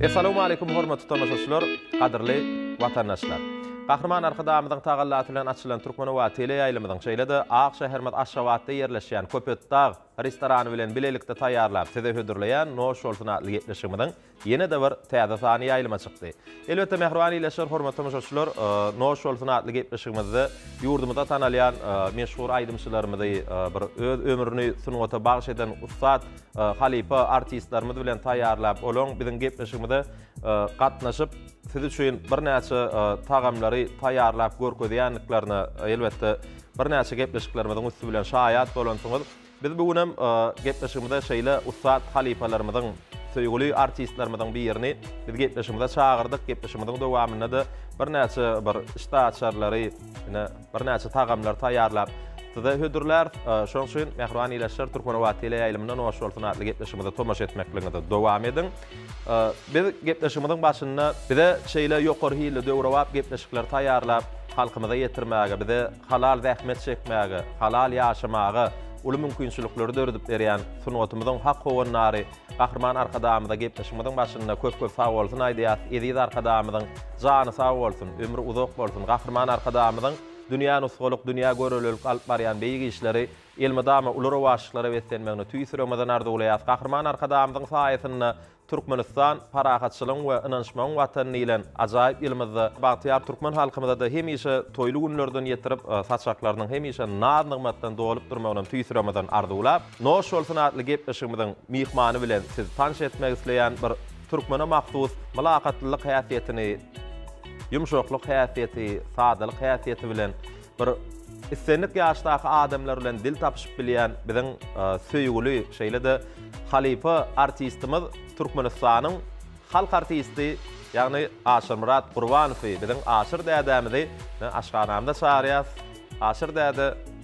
Essalawmaleýkum hormatly tomaşaçylar, gadyrly watandaşlar! Gahryman Arkadagymyzyň tagallasy bilen açylan Türkmenobat teleýaýlymyzyň, şeýle-de ak şäherimiz Aşgabatda ýerleşýän Köpetdag restorany bilen bilelikde taýýarlap size hödürleýän Noş bolsun! atly gepleşigimiziň ýene-de bir täze sany ýaýlyma çykdy. Elbetde, mähriban ildeşler, hormatly tomaşaçylar, Noş bolsun! atly gepleşigimizde ýurdumyzda tanalýan meşhur aýdymçylarymyzy, bir öz ömrüni sungata bagyş eden ussat halypa artistlerimiz bilen taýýarlap, olaň biziň gepleşigimize gatnaşyp, siz üçin birnäçe tagamlary taýýarlap görkezýändiklerine, elbetde, birnäçe gepleşiklerimiziň üsti bilen şaýat bolansyňyz. Biz bu gün hem gepleşigimize şeýle ussat halypalarymyzyň, söýgüli artistlerimiziň birini biz gepleşigimize çagyrdyk. Gepleşigimiziň dowamynda-da birnäçe bir işdäaçarlary, ine, Birnäçe tagamlar taýýarlap size hödürläris. Şonuň üçin mähriban ilaçlar Türkmenobat teleýaýlymynda Noş bolsun atly gepleşigimize tomaşa etmekligiňizi dowam ediň. Biz gepleşigimiziň başynda bize şeýle ýokary hilli döwrebap gepleşikler taýýarlap halkymyza ýetirmäge, bize halal zähmet çekmäge, halal ýaşamaga uly mümkinçilikleri döredip berýän sungatymyzyň hak howandary Gahryman Arkadagymyza gepleşigimiziň başynda köp köp sag bolsun aýdýas, eziz Arkadagymyzyň jany sag bolsun, ömri uzak bolsun, Gahryman Arkadagymyzyň dünýä nusgalyk, dünýä görelilik alyp barýan beýik işleri elmydama uly rowaçlyklara beslenmegini tüýs ýüregimizden arzuwlaýas, Gahryman Arkadagymyzyň saýasynda Türkmenistan parahatçylygyň we ynanyşmagyň watany diýlen ajaýyp ýylymyzda bagtyýar türkmen halkymyzada hemişe toýly günlerden ýetirip saçaklarynyň hemişe naz-nygmatdan dolup durmagynam tüýs ýüregimizden arzuwlap, Noş bolsun atly gepleşigimiziň myhmany bilen siz tanş etmek isleýän bir türkmene mahsus mylakatlylyk häsiýetini, ýumşaklyk häsiýeti, sadalyk häsiýeti bilen bir islendik ýaşdaky adamlar bilen dil tapyşyp bilýän biziň söýgüli şeýle-de halypa artistimiz Türkmenistanyň halk artisti ýagny Aşyrmyrat Gurbanowy biziň Aşyr dädämizi aşhanamyza çagyrýas. Aşyr däde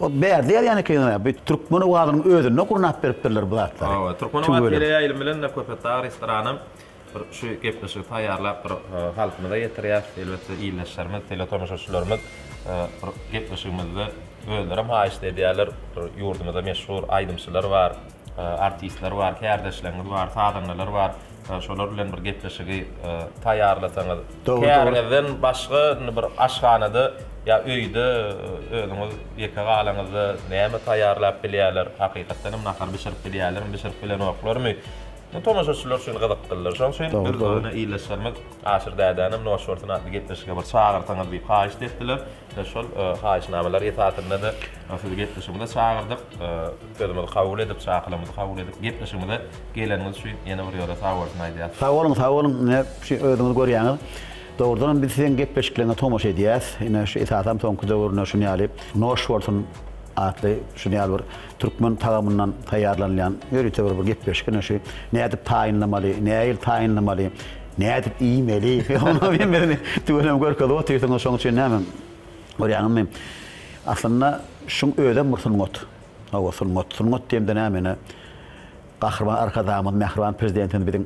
Ol bärde ýazýan ekeniň-ä, bu türkmen owazynyň özünde gurnap beripdirler bu zatlary. Hawa, türkmen owazy teleýaýlym bilen-de Köpetdag restoranam bir şu gepleşigi taýýarlap bir halkymyza ýetirýär. Elbetde ildeşlerimiz, teletomuşaçylarymyz bir gepleşigimizde özlerem haýyşt edýärler. Bir ýurdumyzda meşhur aýdymçylar bar. Artistler bar, kärdeşleriňiz bar, sazandalar bar. Şolar bilen bir gepleşigi taýýarlasaňyz. Käriňizden başga indi bir aşhanada ýa öýde özüňiz ýeke galaňyzda näme taýýarlap bilýärler? Hakykatdan hem nahar bişirip bilýärlermi, bişirip bilenoklarmy? Bu tomaşaçylar üçin gyzyklydyr. Şonuň üçin biz ony ildeşlerimiz Aşyr dädänem Noş bolsun atly gepleşige bir çagyrsaňyz diýip haýyşt etdiler. Biz şol haýyşnamalar esasynda-da sizi gepleşigimize çagyrdyk. Sözümizi kabul edip, çakylymyzy kabul edip, gepleşigimize geleniňiz üçin ýene bir ýola sagbolsun aýdýas. Sag boluň, sag boluň. Ine, şu özüňiz görýäňiz. Dogrudanam biz siziň gepleşikleriňize tomaşa edýäs. Ine, şu esasam soňky döwürde şuny ýaly Noş bolsun atly şuny ýaly bir türkmen tagamyndan taýýarlanylýan ýörite bir gepleşik. Ine, şu nädip taýynlamaly, nähili taýynlamaly, nädip iýmeli, onuň hemmesini tüweleme görkezip otyrsyňyz. Şonuň üçin näme, görýäňizmi, aslynda şuň özem bir sungat. Hawa, sungat. Sungat diýemde näme ine? Gahryman Arkadagymyz, mähriban Prezidentimiz biziň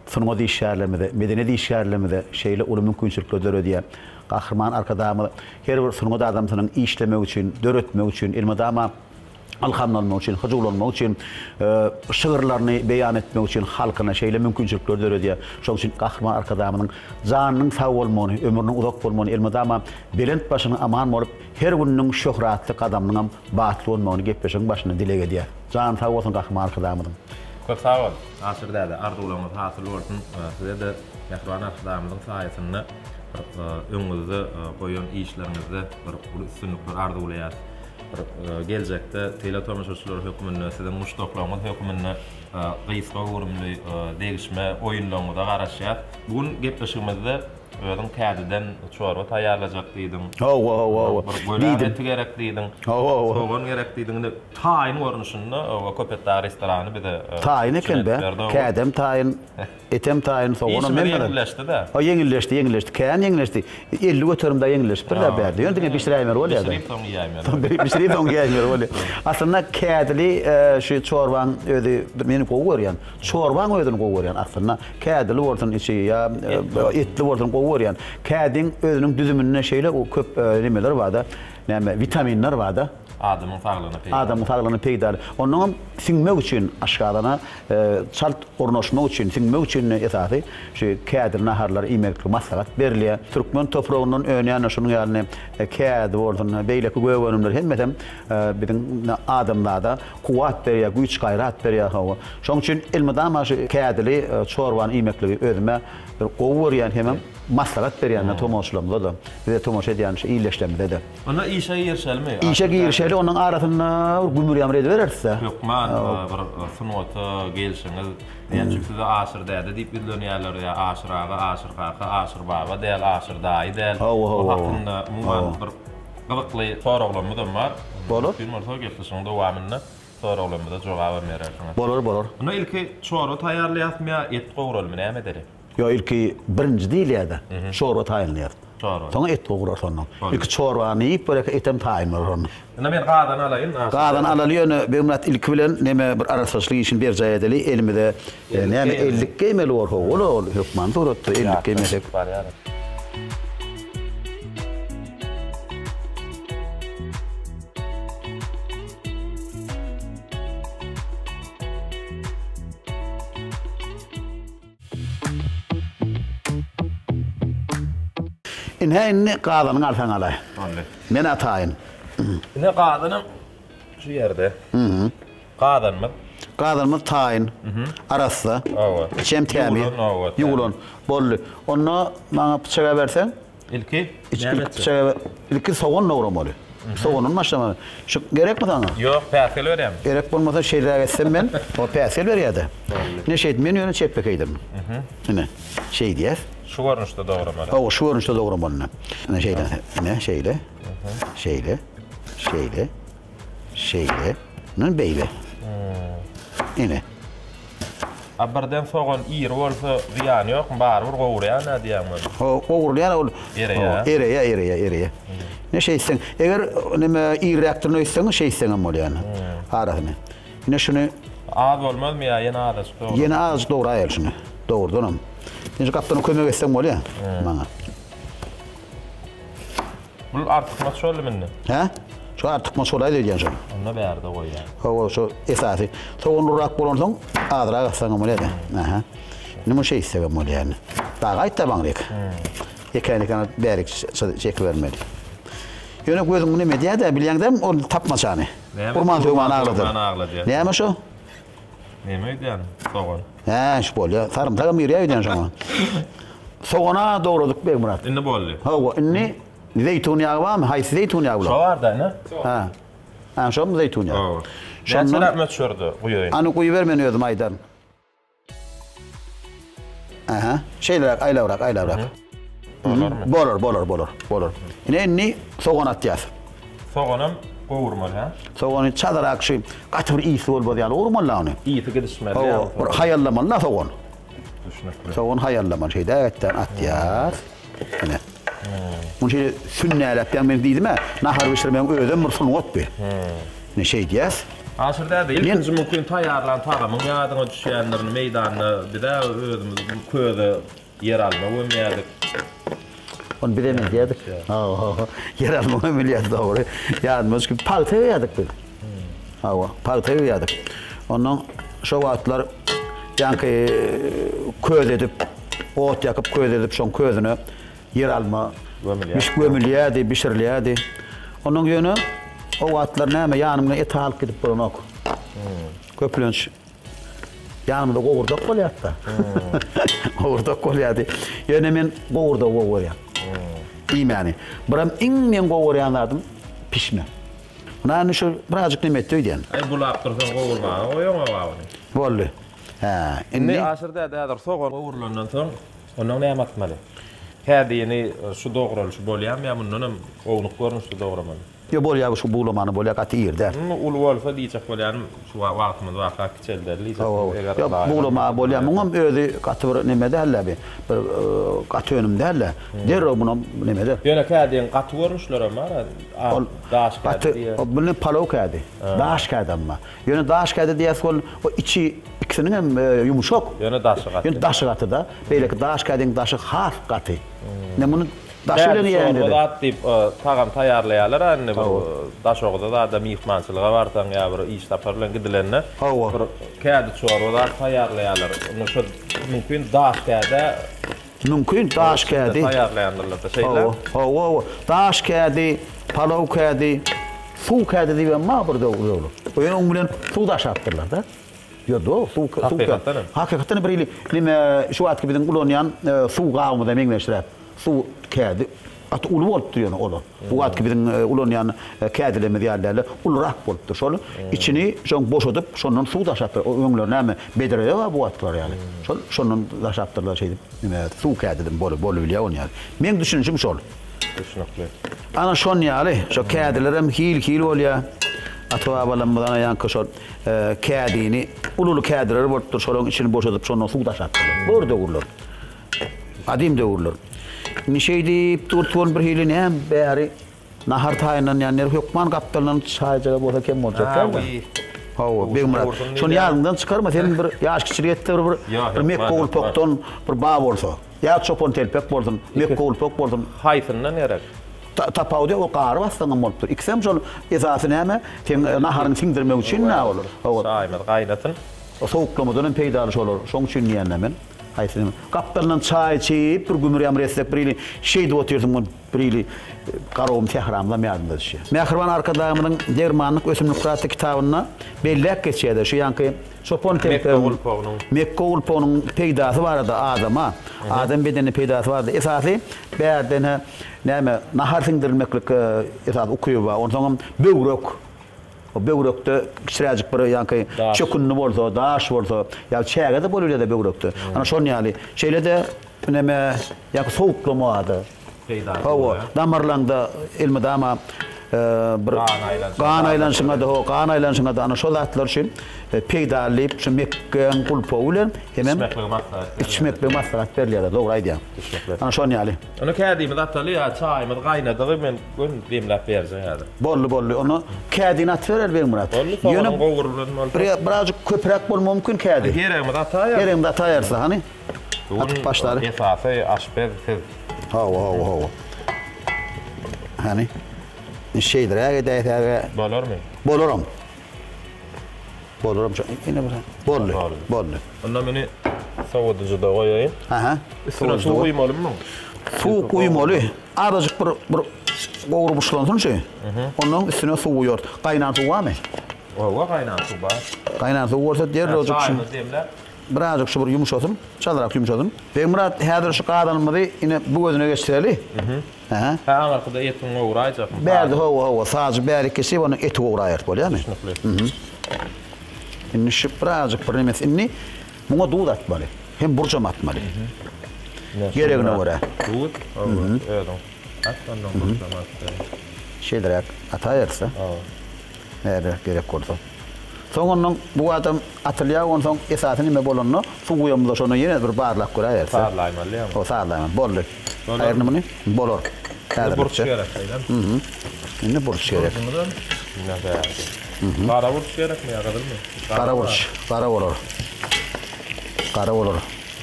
sungat işgärlerimize, medeniýet işgärlerimize şeýle uly mümkinçilikleri döredýär. Gahryman Arkadagymyz her bir sungat adamsynyň işlemegi üçin, döretmegi üçin, elmydama ylhamlanmagy üçin, hyjuwlanmagy üçin, şygyrlaryny beýan etmegi üçin halkyna şeýle mümkinçilikleri döredýär. Şonuň üçin Gahryman Arkadagymyzyň janynyň sag bolmagyny, ömrüniň uzak bolmagyny, elmydama belent başynyň aman bolup, her gününiň şöhratly gadamynyňam Bagtly bolmagyny gepleşigiň başynda dileg edýäs. Jany sag bolsun Gahryman Arkadagymyzyň. Köp sag bol, Aşyr däde, arzuwlaryňyz hasyl bolsun, size-de mähriban Arkadagymyzyň saýasynda bir öňüňizde goýan işleriňizde bir uly üstünlikler arzuwlaýas. Bir geljekde teletomaşaçylar hökmünde, siziň muşdaklaryňyz hökmünde gysga göwrümli degişme oýunlaryňyza garaşýas. Bu gün gepleşigimizde Özüň täzeden çorba taýýarlajak diýdiň. Hawa, hawa, hawa. Bir göläň eti gerek diýdiň. Hawa, hawa. Sogan gerek diýdiň. Indi taýyn görnüşinde oba Köpet dagy restorany bize Taýyn eken-dä. Kädem taýyn, etem taýyn, soganam men garaz. Işimiz ýeňilleşdi-dä. Hawa, ýeňilleşdi, ýeňilleşdi. Kän ýeňilleşdi. Elli göterim dagy ýeňilleşipdir-dä bärde. Ýöne diňe bişiräýmeli bolýa-da. Bişirip soň iýäýmeli. Soň bişirip soň iýäýmeli bolýa. Aslynda kädili şu çorbaň özi meni gowy görýän. Çorbaň özüni gowy görýän aslynda. Kädili bolsun içi ýa etli bolsun gowy görýän. Kädiň özüniň düzüminde şeýle köp nemeler barda, näme witaminler barda. Adamyň saglygyna peýdaly. Adamyň saglygyna peýdaly. Onnoň hem siňmek üçin aşgazana çalt ornaşmak üçin, siňmek üçin esasy şu kädili naharlary iýmeklik maslahat berilýär. Türkmen topragyndan önýän şunuň ýaly kädi bolsun, beýleki gök önümler hemmesem biziň adamzada Kuwwat berýär, güýç-gaýrat berýär hawa. Şoň üçin elmydama şu kädili çorbany iýmekligi özüme bir gowy görýän hemem maslahat berýän men tomaşaçylarymyza-da, bize tomaşa edýän şu ildeşlerimize-de. Onda işe girişelimi? Işe girişeli, ondan arasynda bir gümür-ýamyr edibereris-dä. Hökman bir sungata gelşiňiz. Näme üçin size Aşyr däde diýip ýüzlenýärler ýa Aşyr aga, Aşyr kaka, Aşyr baba däl, Aşyr daýy däl. Hawa, hawa. Bu hakynda umuman bir Gyzykly soraglarymyzam bar. Bolar. Mümkin bolsa gepleşigiň dowamynda soraglarymyza jogabam berersiňiz. Bolar, bolar. Indi ilki çorba taýýarlaýasmy ýa et gowralymy näme edeli? Ýok ilki birinji diýilýäde çorba taýynlaýas. Çorba. Soňa et gowrarys ondan. Bolýar. Ilki çorbany iýip görek etem taýyn bolar onda. Indi men gazany alaýyn. Gazany alaly ýöne Begmyrat ilki bilen neme bir arassaçylyk işini berjaý edeli elimize. Ýa näme ellik geýmeli bolsa ola ol hökman suratda ellik geýmesek. Ine indi gazanyň arsaňalaý. Boldy. Men ataýyn. Ine gazanyň Şu ýerde. Mhm. Gazanymyz. Gazanymyz taýyn. Mhm. Arassa. Hawa. Içem tämiz. Ýuwulan, hawa. Ýuwulan. Boldy. Onda maňa pyçak äberseň. Ilki näme etjek? Pyçak äber. Ilki sogan dogramaly. Sogandan başlamaly. Şu gerekmi saňa? Ýok, päsgel berýäň. Gerek bolmasa şeýleräk etsem men. O päsgel berýär-de. Boldy. Ine şeýt, men ýöne çepbekeýdirin. Mhm. Ine. Şeýdýäs. Şu görnüşde dogramaly. Hawa, şu görnüşde dogramaly ine. Ine şeýle, ine şeýle. Şeýle, şeýle, şeýle, men beýle. Ene. A birden sogan iri bolsa zyýany ýokmy? Barybir gowurýan-a diýýän men. Ho, gowurýan ol. Ereýär. Ereýär, ereýär, ereýär. Ne şeýtseň, eger neme irräkdirini öýtseň, şeýtseň hem bolýan. Arasyny. Ne şuny Az bolmazmy ýa ýene azajyk dogry? Ýene azajyk dograýaly şuny. Dogrudanam. Indi gapdan kömek etseň bolýar maňa. Bul artykmaç boldy mende. Hä? Şu artykmaç bolaýdy öýdýän şol. Onda bärde goýýan. Hawa, şu esasy. Sogan urrak bolan soň azrak atsaň hem bolýar. Aha. Indi muny şeýtsek hem bolýar. Daha gaýtda baňryk. Ekeni kana bärik çeki bermeli. Ýöne gözüm muny medýädä bilýäňdäm o tapmaçany. Urman sögman agladar. Näme şu? Neme öýdýän sogan. Hä şş bolýa sarymsagam girýä öýdýän şoňa. Sogana dograduk Begmyrat. Indi boldy. Hawa indi zeýtun ýagy barmy haýsy zeýtun ýagy bular. Şo bar da ine. Hä. Hä şomy zeýtun ýagy. Hawa. Şondan. Näçeräk möçberde guýaýyn. Any guýuber men özüm aýdaryn. Aha. Şeýleräk aýlabrak, aýlabrak. Bolarmy? Bolar, bolar, bolar, bolar. Ine indi sogan atýas. Soganam gowurmaly, hä? Sogany çadyrak şu gaty bir isi bolmaz ýaly gowurmaly la ony. Isi gidişmeli ýaly. Hawa, bir haýallamaly la sogan. Düşnükli. Sogan haýallamaly, şeýdäkden atýas. Ine. Muny şeýle sünnäläp ýaň men diýdim-ä, nahar bişirmegiň özem bir sungatdy. Ine şeýdýäs. Aşyr däde, ilkinji mümkin taýýarlan tagamyň ýadyňa düşýändirini meýdanda biz-ä özümiz köze ýeralma gömýärdik. Ony bizem edýärdik. Hawa, hawa. Ýeralma gömülýärdi dogry. Ýadyma düşüpdi. Pagta öýýärdik biz. Hawa, pagta öýýärdik. Ondan şo wagtlar ýaňky köz edip, ot ýakyp, köz edip, şoň közüne ýeralma bişip gömülýärdi, bişirilýärdi. Ondan ýöne o wagtlar näme ýanymda et alyp gidip bolanok. Köplenç ýanymda gowurdak bolýardy-da. Gowurdak bolýardy. Ýöne men gowurdagy gowy görýän. Iýmäni. Biram iň men gowy görýän zadym pişme. Muny indi şu birazjyk neme etdi öýdýän. Aý bulap dursaň gowurmaga goýaňoga buny. Boldy. Hä, indi. Indi Aşyr däde häzir sogan gowrulandan soň ondan näme atmaly? Kädini şu dogralyşy bolýamy ýa mundan hem ownuk görnüşde dogramaly? Ýok bolýar şu bulamany bolýar gaty iri däl. Muny uly bolsa diýjek bolýarym şu wagtymyz barka kiçelderli diýjek bolýar eger ylajy bolmasa. Ýok bulama bolýar muňam özi gaty bir neme dälde bir gaty önüm dälde derrew munam nemede. Ýöne kädiniň gaty görnüşlerem bar. Ol daş kädi diýýär. Ol bilin palow kädi. Daş kädi emma. Ýöne daş kädi diýýäs ol içi ikisiniň hem ýumşak. Ýöne daşy gaty. Ýöne daşy gatyda. Beýleki daş kädiň daşy has gaty. Men muny daşy bilen iýeýin diýdi. Kädi çorba zat diýip tagam taýýarlaýarlar a indi bir daşogza zada myhmançylyga barsaň ýa bir iş sapar bilen gidilende bir kädi çorba zat taýýarlaýarlar. Indi şo mümkin daş kädä Mümkin daş kädi. Hawa, hawa, hawa. Daş kädi, palaw kädi, suw kädi diýip hem bar bir döwürler. Öň bilen suw daşapdyrlar-da. Ýo do, suw kädi. Hakykatdan hem. Hakykatdan hem bir hili neme şu wagtky biziň ulanýan suw gabymyza meňzeşräk. Suw kädi. Gaty uly bolupdyr ýöne olar. Bu wagtky biziň ulanýan kädilerimiz ýaly däldir. Ulurak bolupdyr. Şol içini şoň boşadyp, şondan suw daşapdyr. O öňler näme, bedrede bar bu wagtkylar ýaly. Şol şondan daşapdyrlar şeýdip. Nime, suw kädidem bolup bolubilýär ony ýaly. Meň düşünişim şol. Düşnükli. Ana şon ýaly. Şo kädilerem hil-hil bolýar. Ata-babalarymyz ana ýaňky şol kädini, ululy kädileri bolupdyr. Şolaryň içini boşadyp, şondan suw daşapdyrlar. Bor döwürler. Gadym döwürler. Indi şeýdip dur-tut bolup birhili näm bäri nahar taýynlanýandyr. Hökman gapdalyndan çaýjagaz bolsa kem boljak däl. Hawi. Hawa, Begmyrat. Şony ýadyňdan çykarma, seniň bir ýaş kiçiligýetde bir bir mekgowulpakdan bir ba bolsa. Ýa çopantelpek bolsun, mekgowulpak bolsun. Haýsyndan gerek? Ta, tapawut ýok, ol gary bassaňam bolupdyr. Ikisem şol esasy näme, seň naharyňy siňdirmek üçin-dä ol. Hawa. Çaýymyz gaýnasyn. Sowuklamadan hem peýdaly şolar. Şoň üçin diýýän-dä men. Haýsynyň? Gapdalyndan çaý içip, bir gümürýän, bir esnek, bir ili şeýdip otyrdym, gün bir ili garawym, sähramyzam ýadyma düşýär. Mähriban Arkadagymyzyň Dermanlyk ösümlikler atly kitabynda belläp geçýär-de, şu ýaňky çopan kempiriň, mekge gulpugynyň peýdasy barada adama, adam bedenine peýdasy barada. Esasy bärde näme, nahar siňdirilmeklik esasy ukyby bar. Onsoňam böwrek. O böwrekde kiçiräjik bir ýaňky çökündi bolsa, daş bolsa, ýa çäge-de bolubilýär-de böwrekde. Ana şonuň ýaly. Şeýle-de üneme ýaňky sowuklama ady. Peýda. Hawa, damarlaňda elmydama bir gan aýlanyşyňa-da, hawa, gan aýlanyşyňa-da ana şo zatlar üçin peýdaly diýip, şu mekgeň gulpowy bilen hemem içmekligi maslahat berýärler. Içmekligi maslahat berýärler, dogry aýdýaň. Ana şonuň ýaly. Ony kädimizi ataly ýa çaýymyz gaýnadygy men göni demläp berjek häzir. Boldy boldy ony kädini atyber eli Begmyrat. Boldy soňam gowrulan bolsa. Ýöne birazjyk köpräk bolmagy mumkin kädi. Geregimizi ataýarys. Geregimizi ataýarys hany. Atyp başlaly. Esasy aşpez siz. Hawa hawa hawa. Hany. Şeýdiräk edäýsäge. Bolarmy? Bolaram. Bolar amca. Ene bir. Boldy. Boldy. Boldy. Onda meni sowadyjyda goýaýyn. Aha. Üstüne suw guýmalymy? Suw guýmaly. Azajyk bir bir gowrup uçlansyn şu. Ondan üstüne suw guýar. Gaýnan suw barmy? Owa, gaýnan suw bar. Gaýnan suw bolsa derrewjik şu. Çaýymyzy demläp. Birazjyk şu bir ýumşasyn. Çalrak ýumşasyn. Begmyrat, häzir şu gazanymyzy ine bu gözüne geçireli. Hä? Hä aňyrkyda etiň gowraýjasyny Bärde saýlap. hawa hawa sajy bärik kesip ondan eti gowraýarys bolýamy? Düşnükli. Indi şüp birazjyk bir nemes indi muňa duz atmaly. Hem burjam atmaly. Ine Geregine şeýdibräk görä. Duz hawa özüň at ondan burjam at. Şeýdibräk ataýarys-da. Hawa. Nädip gerek bolsa. Soň ondan bu adam atylýar onsoň esasy nime bolanda suw guýamyzda şondan ýene bir barlap göräýerse. Sazlaýmaly ýaňy. Ho sazlaýmaly boldy. Aýryny muny bolar. Indi burç gerek beýlemi. Hühü. Indi burç gerek. Burjumyzam muňa bärde. Hühü. Gara burç gerekmi ýa gyzylmy? Gara burç. Gara bolar. Gara bolar.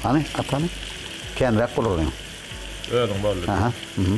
Hany at hany. Känräk bolar onuň. Özüň boldy. Aha. Hühü.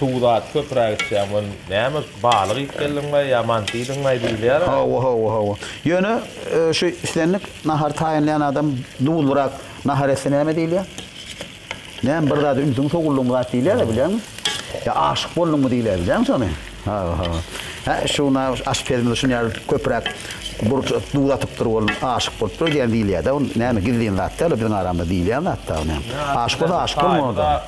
Suwy zat köpüräk içýäň we näme balyk iýip geldiňmi ýa manty iýdiňmi diýilýär. Hawa hawa hawa. Ýöne şu islendik nahary taýynlaýan adam duzlyrak nahar etse näme diýilýär? Näme bir zada ünsüň sowuldymy zat diýilýärä bilýäňmi? Ýa aşyk bolduňmy diýilýär bilýäňmi şony? Hawa hawa. Hä şu na aşpezimiz şuny ýaly köpüräk burç duz atypdyr ol aşyk bolupdyr diýen diýilýärde ol näme gizlin zat däl ol biziň aramyzda diýilýän zat da ol näme. Aşyk bolsa aşyk bolmaly da.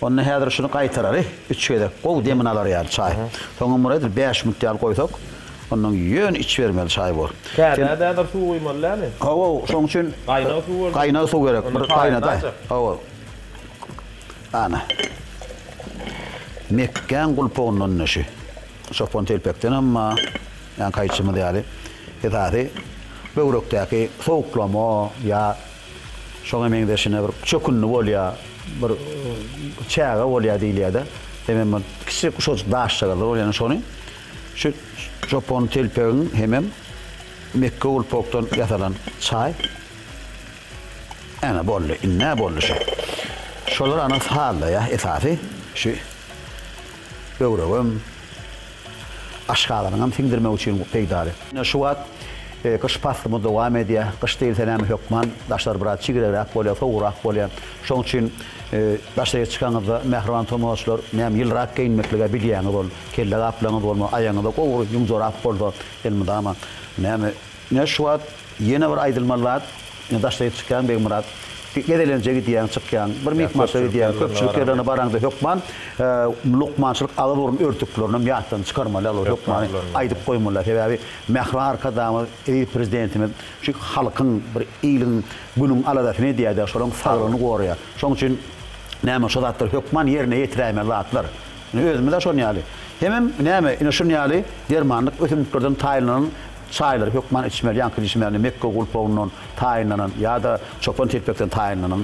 Onda häzir şuny gaýtarary, üç gezek gowy demini alar ýaly çaý. Soňam bir edil bäş minut ýaly goýsak, ondan ýöne içibermeli çaý bu. Täzä däder suw guýmaly dämi? Hawa, şoň üçin Gaýnag suw berjek. Gaýnag suw gerek. Bir gaýnadaý. Hawa. Ana. Mekgäň gulpugyndan neşi. Çopan telpekden emma, ýaňky aýtjymyz ýaly, esasy Böwrekdäki sowuklama ýa şoňa meňzeşine bir çökündi bolýar, bir çäge bolýar diýilýär-de. Hemem bir kiçijek uşajyk daşjagazlar bolýar, ýöne şony şu çopan telpegiň hemem mekge gulpakdan ýasalan çaý. Äne boldy, indi-ä boldy şu. Şolar ana sazlaýar esasy. Şu böwregem Aşgazanaňam siňdirmek üçin peýdaly. Şu wagt gyş paslymyz dowam edýär. Gyş diýilse näme hökman daşlar biraz çigregräk bolýar, sowugrak bolýar. Şonuň üçin daşaýa çykanyňyzda mähriban tomaşaçylar näme ýylyrak geýinmeklige bilýäňiz ol kelle gaplaňyz bolmasa aýagyňyza gowry ýuň jorap bolsa elmydama näme Ine, şu wagt ýene bir aýdylmaly zat, ine, daşdaýyp çykýaň, Begmyrat. Gezelenje gidýäň, çykýaň, bir myhmançylyga gidýäň, köpçülik ýerlerine baraňda hökman lukmançylyk agyz-burun örtüklerinem ýatdan çykarmaly, ýaly bir hökmany aýdyp goýmaly. Sebäbi Mähriban Arkadagymyz, eziz Prezidentimiz şu halkyň, bir iliň, günüň aladasyny edýär-de, şolaryň saglygyny goraýar. Şonuň üçin näme, şu zatlar hökman ýerine ýetiräýmeli zatlar. Ine, özümiz-ä şonuň ýaly. Hemem näme, ine, şunuň ýaly dermanlyk ösümliklerden taýynlanan, Çaýlary hökman içmeli, ýaňky içmäni mekge gulpagyndan taýynlanan ýa-da çopan telpekden taýynlanan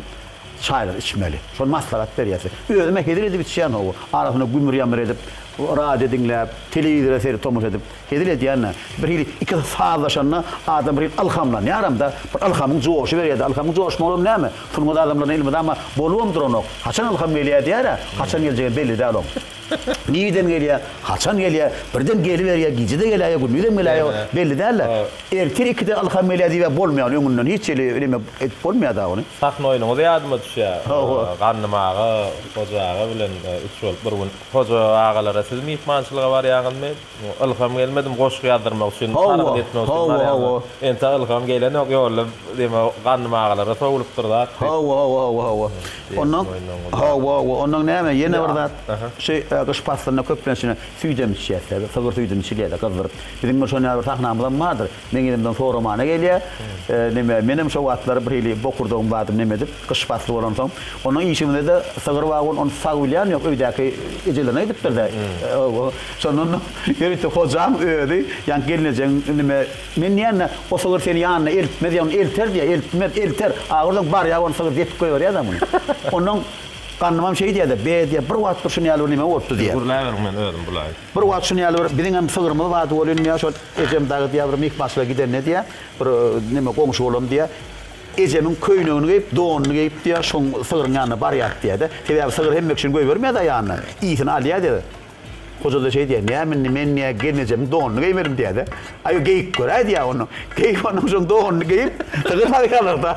çaýlary içmeli. Şol maslahat berýär. Özüm-ä hezil edip içýän hawa. Arasynda gümür-ýamyr edip, radio diňläp, telewizora seredip tomaşa edip hezil edýän-ä. Bir hili ikisi sazlaşanda adam bir hili ylhamlanýaram-da. Bir ylhamyň joşy berýär-de. Ylhamyň joşmagam näme? Sungat adamlaryna elmydama bolubam duranok. Haçan ylham gelýär diýär-ä. Haçan geljegem belli däl oň. Nireden gelýär, haçan gelýär, birden geliberýär, gije-de geläýýär, gündizem geläýýär, belli däldi. Ertir ikide ylham gelýär diýibem bolmaýar, öňünden hiç hili eleme edip bolmaýar dagy ony. Sahna oýnuňyz ýadyma düşýär. Gandym aga, Hoja aga bilen üç bolup bir gün Hoja agalara siz myhmançylyga barýaňyzmy? Ylham gelmedim goşgy ýazdyrmak üçin Hawa hawa hawa. Entä ylham gelenok ýolda deme ganym agalara sowlupdyr zat. Hawa hawa hawa hawa. Ondan hawa hawa ondan näme ýene bir zat şu gyş paslynda köplenç ine süýdem içýäs sygyr süýdini çilýäs gyzdyryp. Biziň bir şonýa bir sahnamyzam bardyr. Meň elimden soramana gelýär. Neme, menem şo wagtlary bir hili bokurdagym bardy, neme edip, gyş pasly bolansoň. Onuň işimizde-de sygyr bar welin, ony sag bilýän ýok, öýdäki ejelerine gidipdir-de. Şondan ýörite hojam özi, ýaňky gelnejegiň, neme, men diýende, o sygyr seni ýanyna eltmez, ýa ony elter diýýär, eltmez, elter, agyrdym, bar, ýa ony sygyr depip goýberýär-de muny. Ondan gannymam şeý diýýär-de, be diýýär, bir wagt bir şuny ýaly bir neme bolupdy diýýär. Gürläberiň, men özüm bulaýyn. Bir wagt şun ýaly bir biziňem sygyrymyz bardy welin diýýär, şol ejem dagy diýýär bir myhmançylyga gidende diýýär, bir neme goňşy bolam diýýär, ejemiň köýnegini geýip, donuny geýip diýýär, şoň sygryň ýanyna barýardy diýýär-de. Sebäbi sygyr hemmek üçin goýbermeýär-de aýagyna, ysyn alýar diýýär. Hoja-da şeý diýýär, Näme indi men diýýär, gelnejemiň donuny geýmedim diýýär-de. Aý, geýip göräý diýýär onuň. Geýip onuň şoň donuny geýip, sygyr barýarlar-da.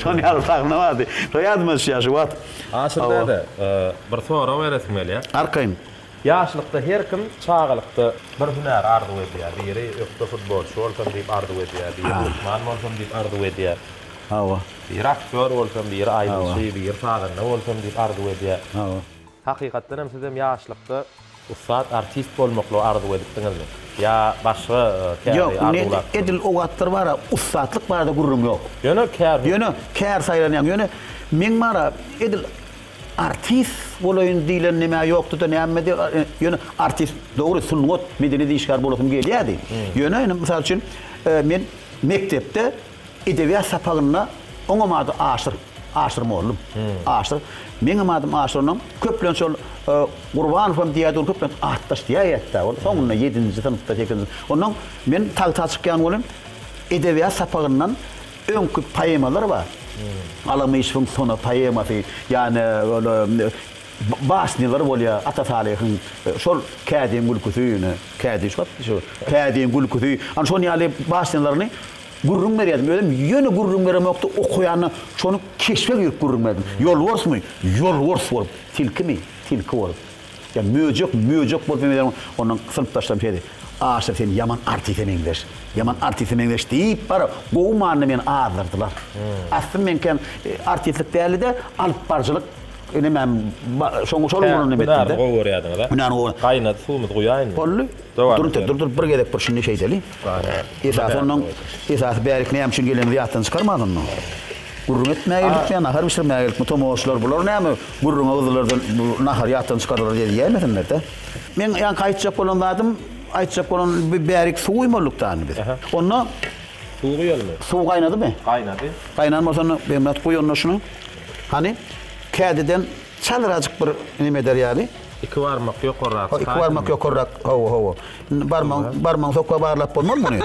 Şonuň ýaly sahna bardy. Şo ýadyma düşýär şu wagt. Aşyr däde, bir sorag beresim gelýär. Arkaýyn. Ýaşlykda her kim çagalykda bir hünäri arzuw edýär. Biri ökde futbolçy bolsam diýip arzuw edýär, biri lukman bolsam diýip arzuw edýär. Hawa. Biri aktýor bolsam, biri aýdymçy, biri sazanda bolsam diýip arzuw edýär. Hawa. Hakykatdan hem sizem ýaşlykda Ussat artist bolmaklygy arzuw edipdiňizmi? Ýa başga käri Ýok, ned arzuwlapsyňyzmy? edil o wagtlar bar-a, ussatlyk barada gürrüň ýok. Ýöne kär hut. Ýöne kär saýlanýaň. Ýöne meň bar-a, edil artist bolaýyn diýlen nämä ýokdy-da, nämedi, ýöne artist, dogry, sungat, medeniýet işgäri bolasym gelýärdi. Ýöne indi, mysal üçin, men mekdepde. Edebiýat sapagynda oňam ady Aşyr, Aşyr mollum, Aşyr. Meňem adym Aşyr onam. Köplenç ol Gurbanowam diýýärdi, ony köplenç atdaş diýäýýärdi-de ol. Soňunda ýedinji synpda, sekizinji. Ondan men tagta çykýan welin, edebiýat sapagyndan öňki poemalar bar. Alamyşewiň Sona poemasy, ýa-ni ol basnýalar bolýar Ata Salyhyň, şol Kädiň gülküsi, ýöne Kädi şu wagt, şu Kädiň gülküsi, ana şol ýaly basnýalaryny Gürrüň berýärdim. Özüm ýöne gürrüň beremokdy, okaýanda şony keşbe girip gürrüň berdim. Ýolborsmy? Ýolbors bolup. Tilkimi? Tilki bolup. Ýa möjek? Möjek bolup meňzedim. Ondan synpdaşlarym şeýdi, Aşyr sen ýaman artise meňzeş. Ýaman artise meňzeş diýip barybir gowy manyda meni azdyrdylar. Aslym meňkem artistlik däldi-de, alypbaryjylyk nemäm, şol ugurdan nemetdim-de. Hünärini gowy görýärdiňiz-a. Hünärini gowy. Gaýnady suwumyzy guýaýynmy? Boldy. Durunte, dur-dur, bir gezek bir şindi şeýdeli. Esasy onnoň, esasy bärik näme üçin gelenimizi ýatdan çykarman onnoň. Gürrüň etmäge geldik ýa nahar bişirmäge geldikmi, tomaşaçylar bular näme gürrüňe gyzdylar-da, bu nahary ýatdan çykardylar diýip diýäýmesinler-dä. Meň ýaňky aýtjak bolan zadym, aýtjak bolan bi bärik suw guýmalydyk dany biz. Onda Suw guýalymy? Suw gaýnadymy? Gaýnady. Gaýnan bolsa onda Begmyrat guý onda şuny. Hany, kädiden çalyrajyk bir neme eder ýaly. Iki barmak ýokarrak çykaýsyn. Iki barmak ýokarrak, hawa, hawa. Indi barmagyň, barmagyň sokga barlap bolmaz muny.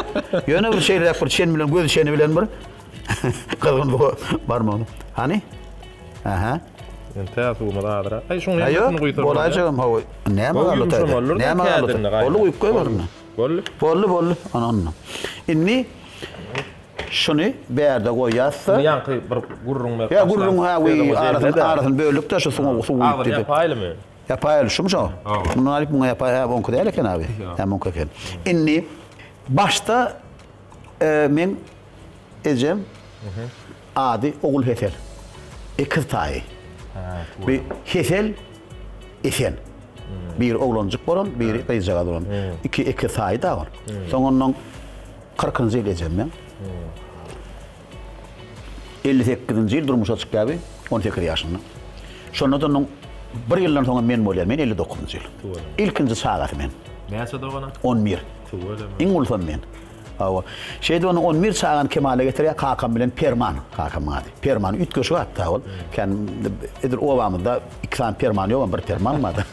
Ýöne bir şeýleräk bir çen bilen, göz çeni bilen bir gyzgyn bu barmagyny. Hany? Aha. Indi tä suwumyz azyrak. Aý şuň ýaňysyny guýsam. Bolaýjagam, hawa. Näme galdy taýda? Näme galdy? Boldy guýup goý görme. Boldy. Boldy, boldy. Ana onda. Indi Şuny bärde goýasda. Indi ýaňky bir gürrüň berip başlan. Ýa gürrüň ha we arasyny arasyny böldükde şu suňa suw guýup diýdi. Ýapaýlymy? Ýapaýly şumy şo? Mundan alyp muňa ýapaý hä oňky däl eken abi. Hä muňky eken. Indi başda meň ejem ady Ogul Hesel. Ekiz taýy. Bir Hesel Esen. Biri oglanjyk bolan, biri gyzjagaz bolan. Iki ekiz taýy da bar. Soň ondan Kyrkynjy ýyl ejem meň. Elli sekizinji ýyl durmuşa çykýarby, on sekiz ýaşynda. Şonda-da onuň bir ýyldan soňam men bolýar, men elli dokuzynjy ýyl. Ilkinji çagasy men. Näçe dogana? On bir. Tüweleme. Iň ulusam men. Hawa. Şeýdip ony on bir çagany kemala getirýär kakam bilen Perman, kakamyň ady. Perman üýtgeşik atda ol. Kän edil obamyzda iki sany Perman ýogam, bir Perman bar-da.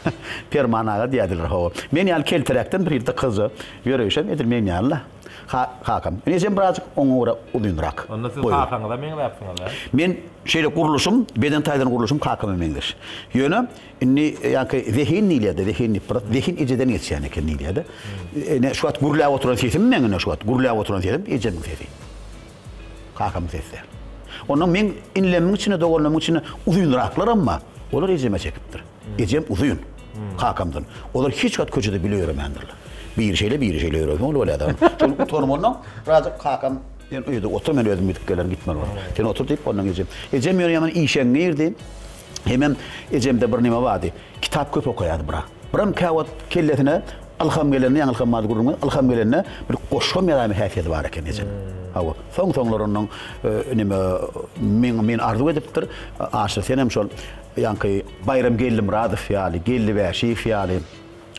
Perman aga diýerdiler, hawa. Men ýaly keltiräkden bir ýylda kyzja Ýöreýşem edil men ýaly-la, kakam. Ine sen birazjyk oňa görä uzynrak. Onda siz kakaňyza meňzäpsiňiz, hä? Men şeýle gurluşym, beden taýdan gurluşym kakama meňzeş. Ýöne indi ýaňky zehin diýilýär-de, zehin diýip biraz zehin ejeden geçýän eken diýilýär-de. Ine şu wagt gürläp oturan sesim meň ine şu wagt gürläp oturan sesim ejemiň sesi. Kakamyň sesi däl. Onda meň inlemiň içinde, doganlarymyň içinde uzynraklaram bar. Olar ejeme çekipdir. Ejem uzyn. Kakamdan. Olar hiç wagt köçede bile ýöremändirler. Biri şeýle, biri şeýle ýörerken ol bolýardy. Şol utanip ondan birazajyk kakam Sen öýde otur, men özüm gidip gelerin, gitmeli bolar. Sen otur diýip, ondan ejem. Ejem ýöne ýaman işeňňirdi. Hemem ejemde bir näme bardy. Kitap köp okaýardy bra. Bram käwagt kellesine ylham gelende, ýaňy ylham bardy gürrüňi, ylham gelende bir goşgam ýazaýma häsiýeti bar eken ejeň. Hawa. Soň-soňlar ondan näme, men arzuw edipdir. Aşyr, senem şol Ýaňky Baýram Geldimyradow ýaly, Geldi Bäşiýew ýaly,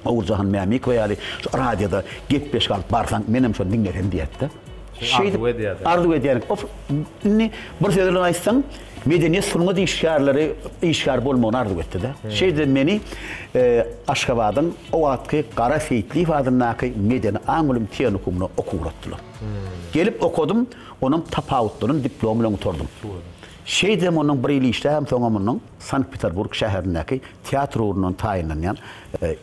Oguljahan Mämikowa ýaly şu radioda gepleşik alyp barsaň, menem şony diňlesem diýýäs-de. Şeýdip arzuw edýärsiň. Arzuw edýärin. Indi bir söz bilen aýtsaň, medeniýet, sungat işgärleri işgär bolmagyny arzuw etdi-de. Şeýdibem meni Aşgabadyň o wagtky Gara Seýitliýew adyndaky medeni aň bilim tehnikumyna okuwa ugratdylar. Gelip okadym, onam tapawutlanyn diplomy bilen gutardym. Şeýdibem onuň bir ýyl işläbem soňam onuň Sankt-Peterburg şäherindäki teatr ugrundan taýynlanýan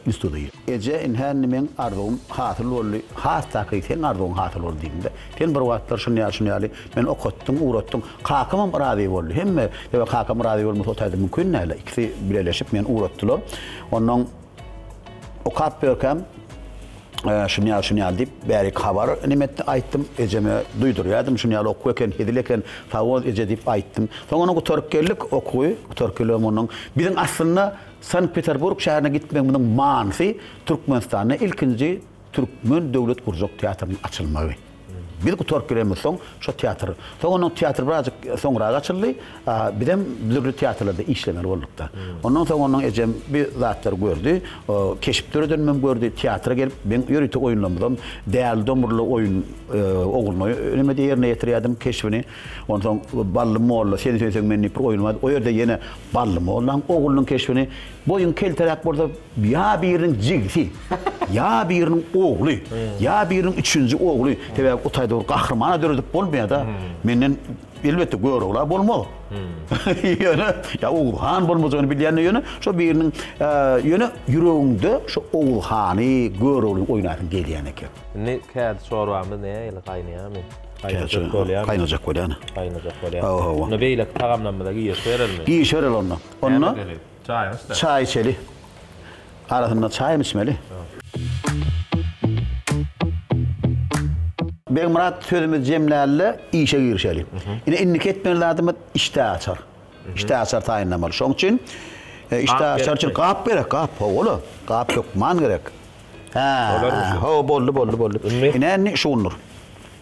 institudy. Eje, indi hände meň arzuwym hasyl boldy, has takygy seň arzuwyň hasyl boldy diýdim-de. Sen bir wagtlar şuny ýaly, şuny ýaly meni okatdyň, ugratdyň. Kakamam razy boldy. Hemme, sebäbi kakam razy bolmasa otaýda mümkin däl-ä. Ikisi bileleşip meni ugratdylar. Onnoň. Okap görkem, şuny ýaly şuny ýaly diýip bärik habar neme etdi aýtdym ejeme duýdurýardim şuny ýaly okuw eken hezil eken sag bol eje diýip aýtdym soň ony gutaryp geldik okuwy gutaryp gelem onuň biziň aslynda sankt peterburg şäherine gitmegimiziň manysy türkmenistanda ilkinji türkmen döwlet gurjak teatrynyň açylmagy Biz gutaryp gelenimizsoň, şo teatr, soň onuň teatry birazjyk soňrak açyldy. Bizem dürli teatrlarda işlemeli bolduk-da. Ondan soň onuň ejem bir zatlary gördi, keşp döredenimem gördi, teatra gelip, meň ýörite oýunlarymyzam Däli Domurly oýun Ogulnoý enemede ýerine ýetirýärdim keşbini. Onsoň Bally molla, Sen söýseň men diýip bir oýun bardy. O ýerde ýene Bally mollaň oglunyň keşbini Boýuň kelteräk bolsa, ýa biriniň jigisi, ýa biriniň ogly, ýa biriniň üçünji ogly. Sebäbi o taýda bir gahrymana döredip bolmaýar-da. Menden, elbetde, görogla bolmaz. Ýöne, ýa Oguz han bolmajagyny bilýän-de ýöne, şo biriniň, ýöne ýüregiňde şo Oguz hany, görogly oýnaýasyň gelýän eken. Indi kädi çorbamyz nähili, gaýnaýarmy? Gaýnajak bolýar. Gaýnajak bolýar. Gaýnajak bolýar. Hawa, hawa. Onda beýleki tagamlarymyza girişerelmi? Girişerel onda. Onda Näme edeli? Çaýyňy içsene. Çaý içeli. Arasynda çaýam içmeli. Begmyrat sözümizi jemläli-de, işe girişeli. Ine, indiki etmeli zadymyz işdä açar. Işdä açar taýynlamaly. Şoň üçin işdä açar üçin gap gerek, gap. Hawa-la, gap hökman gerek. Hä, hawa, boldy, boldy, boldy. Ine, indi şugundyr.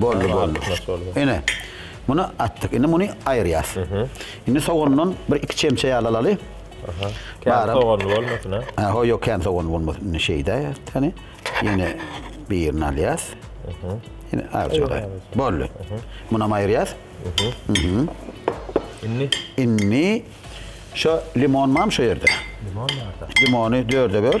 Boldy, boldy. Ine, muny atdyk. Indi muny aýyrýas. Indi sogandan bir iki çemçe ýaly alaly. Kän soganly bolmasyn, a? Hä, ho, ýok, kän soganly bolmasyn. Indi şeýdä, täni. Ýene birini alýas. Ýene azjyga. Boldy. Munam aýyrýas. Indi? Indi şo limon barmy şo ýerde? Limon barda. Limony dörde böl.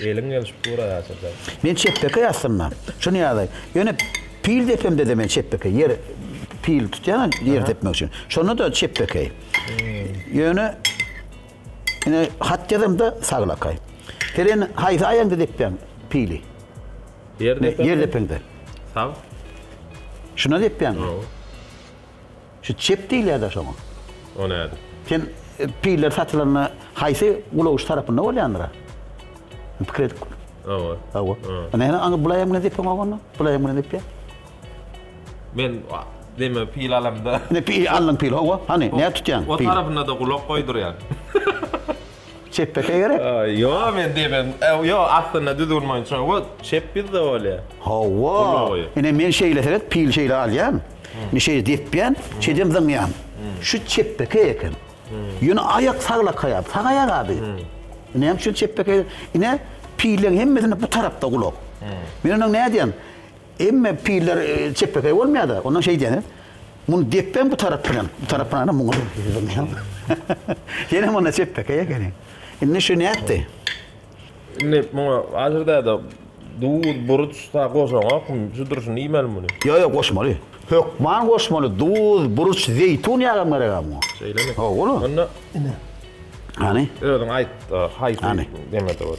Eliň gelşip dur aýaçada. Men çepbeke ýassynda. Şuny ýazaý. Ýöne pil depemde-de men çepbeke. Ýer pil tutýan ýer depmek üçin. Şonda-da çepbeke. Ýöne. Ine hat ýazamda saglakaý. Seren haýsy aýaňda depýäň pili? Ýer depeňde. Ýer depeňde. Sag. Şuna depýäňmi? Hawa. Şu çep diýilýär-de şoňa. O näde? Sen e, piller satylanda haýsy gulagyş tarapynda bolýandyra? Pikir edip. Hawa. Hawa. Ine aňa bulaýam bilen depeň oganda. Bulaýam bilen depýär. Men deme pil alamda. Ne pil aldyň pil howa hany nädip tutýaň pil. O tarapyna-da gulak goýdurýan. Çepbekeý gerek. Ýo men demem ýo aslynda düzgün boýunça o çep ýüzde bolýar. Howa ine men şeýle seret pil şeýle alýan. Men şeýle depýän şeýdem zyňýan. Şu çepbekeý eken. Ýöne aýak saglakaýar sag aýak abi. Näme üçin çepbekeý ine pilleň hemmesinde bu tarapda gulak. Men onuň nädýän Emme piller çepbekeý bolmaýada. Ondan şeý diýäniz. Muny depbem bu tarap bilen. Bu tarap bilen hem muňa Ýene munda çepbekeý ekeni. Indi şu nätdi? Indi muňa Aşyr däde duz, buruç sa goşaňok. Şu durşuna iýmeli muny. Ýok, ýok, goşmaly. Hökman goşmaly. Duz, buruç, zeýtun ýagam gerek-ä muňa. Şeýlemi? Hawa, ola. Onda Hany? Özüň aýt, haýsy deme-de bor.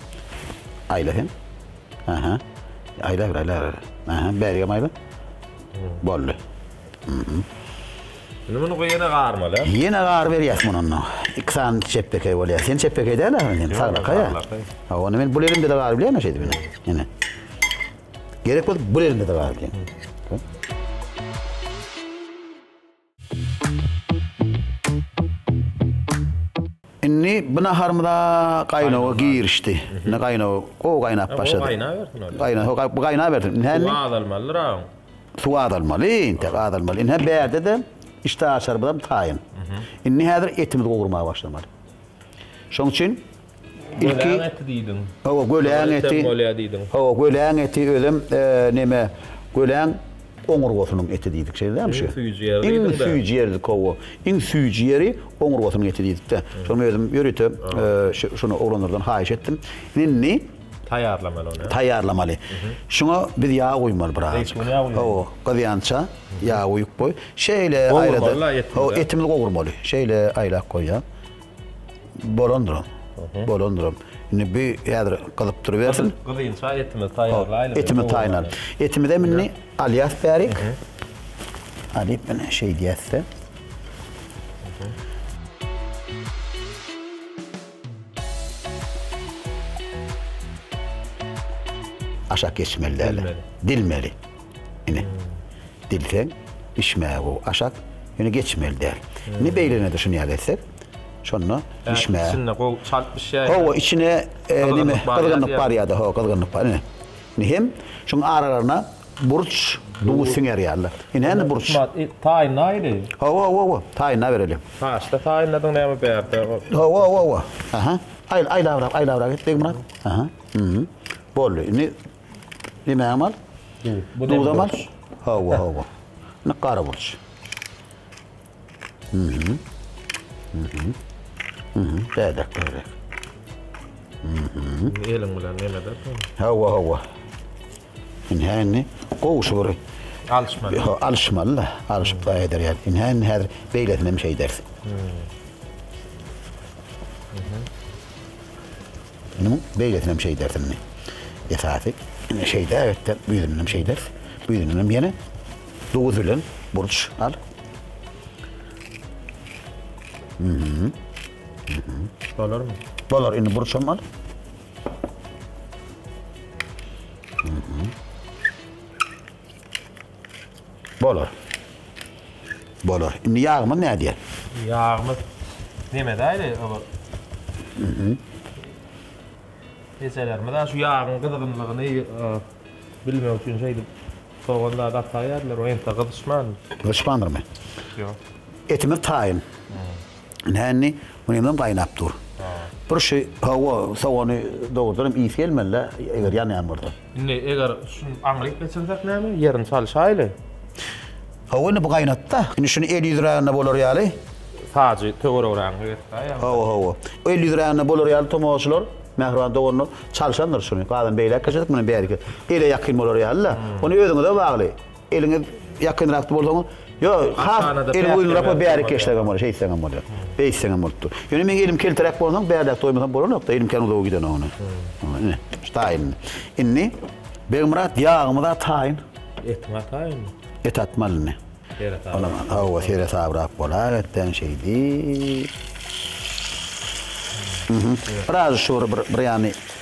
Aýla hem. Aha. Aýla, aýla, aýla. Aha, bäri hem aýla. Boldy. Mhm. Indi muny goýana garmaly. Ýene gar berýäs muny onda. Iki sany çepbekey bolýar. Sen çepbekey däl ahyryn sen, saglaka ýa. Ha, onda men bul elimde de gar bilýän şeýdip indi. Ýene. Gerek bolup bul elimde de gar bilýän. Indi bu naharymyza gaýnawa girişdi. Indi gaýnawa gowy gaýnap başlady. Gaýnabersin ol. Gaýna, ho, bu gaýnabersin. Indi Suw azalmalydyr aň. Suw azalmaly, indi azalmaly. Indi bärde-de işdä açarymyzam taýyn. Indi häzir etimizi gowurmaga başlamaly. Şoň üçin Ilki eti diýdiň. Hawa, göläň eti. Bolýar diýdiň. Hawa, göläň eti özem näme, göläň oňurgasynyň eti diýdik, şeýdämi şu? Iň süýji ýeri diýdiň. Iň süýji ýeri hawa. Iň süýji ýeri oňurgasynyň eti diýdik-de. Şony özüm ýörite şuny oglanlardan haýyş etdim. Indi taýýarlamaly ony. Taýýarlamaly. Şuňa biz ýag guýmaly biraz. Hawa, gyzýança ýag guýup goý. Şeýle aýlada. Gowurmaly eti. Hawa, etimizi gowurmaly. Şeýle aýlap goýýar. Bolandyram. Bolandyram. Indi bu häzir gyzyp durubersin. Gyzynça etimizi taýýarlaýlyň. Etimi taýýarlan. Etimizi hem indi alýas bärik. Alyp meni şeýdýäs-de. Aşak geçmeli däl. Dilmeli. Ine, dilseň, bişmäge gowy aşak, ýöne geçmeli däl. Indi beýlegine de şuny ýaly etsek, şonda bişmäge. Içinde gowy çalt bişýär. Hawa, içine neme, gyzgynlyk barýar-da, hawa, gyzgynlyk bar. Ine, indi hem şunuň aralaryna burç, duz siňer ýaly. Ine, indi burç. Taýynla ýeri. Hawa, hawa, hawa, taýynla bereli. Haşda taýynladyň näme bärde? Hawa, hawa, hawa. Aha, aýlabrak, aýlabrak et, Begmyrat. Aha, boldy. Indi. Yemeğim al. Bu da Duzam al. burç. Hawa, hawa. Ne kara burç. Mhm. Mhm. Mhm. Dede kere. Eliň bilen neme edersen? Hawa, hawa. Şimdi hendi kovuşu bir Alışmaly. Ha, alışmalı da. Alışıp da eder yani. Şimdi hendi hazır beylesine hem şey ders. Munuň beýlesinem şeýders indi. Esasy indi şeýle aýatda büýüdünem şeýders. Büýüdünem ýene duz bilen burç al. Mhm. Mhm. Bolarmy? Bolar indi burçam al. Mhm. Bolar. Bolar. Indi ýagymyz nädýär? Ýagymyz demedäýli olar. Ejelerimiz şu ýagyň gyzgynlygyny bilmek üçin şeýdip sogan zady ataýýarlar, o entek gyzyşman. Gyzyşmandyr men. Ýok. Etimiz taýyn. Nändi? Bu nemem gaýnap dur. Bir şey, hawa, sogany dogrudanam ysy gelmeli-le, eger ýanýan bolsa. Indi eger şuny aňryk geçirsek näme? Ýerini çalyşaýly. Hawa, indi bu gaýnat-da. Indi şuny el ýüzrägine bolar ýaly. Sajy töweregrägine getirsäýeli. Hawa, hawa. El ýüzrägine bolar ýaly tomaşaçylar, mähriban doganlar çalşandyr şuny. Galan beýläk geçerdik, muny bäriki ele ýakyn bolar ýaly-da. Ony özüňize bagly. Eliňiz ýakynrakda bolsaň, ýo, has eliň uzynrakda bärik geçsegem bolar, şeýtseňem bolar. Beýtseňem bolup dur. Ýöne meň elim keltiräk bolsaň, bärräk doýmasam bolanokda, elim kän uzaga giden ony. Ine, şu taýyn. Indi Begmyrat ýagymyza taýyn. Etiňe taýynmy? Et atmaly indi. Olam hawa, seresabrak bolar etden şeýdip. Biraz şury bir bir ýany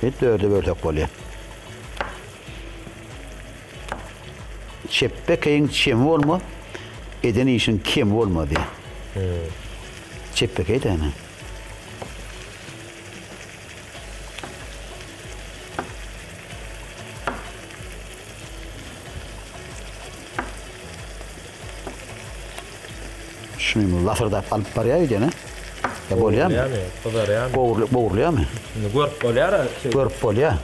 Hit dörde bölsek bolýar. Çepbekeýiň çemi bolma, eden işiň kemi bolma diýýär. Hmm. Çepbekeý däne. Şuny lasyrdap alyp barýar öýdene. Ya bolýarmy? Bolýarmy? Gyzarýarmy? Gowrulyp gowrulýarmy? Indi görüp bolýar. Görüp bolýar.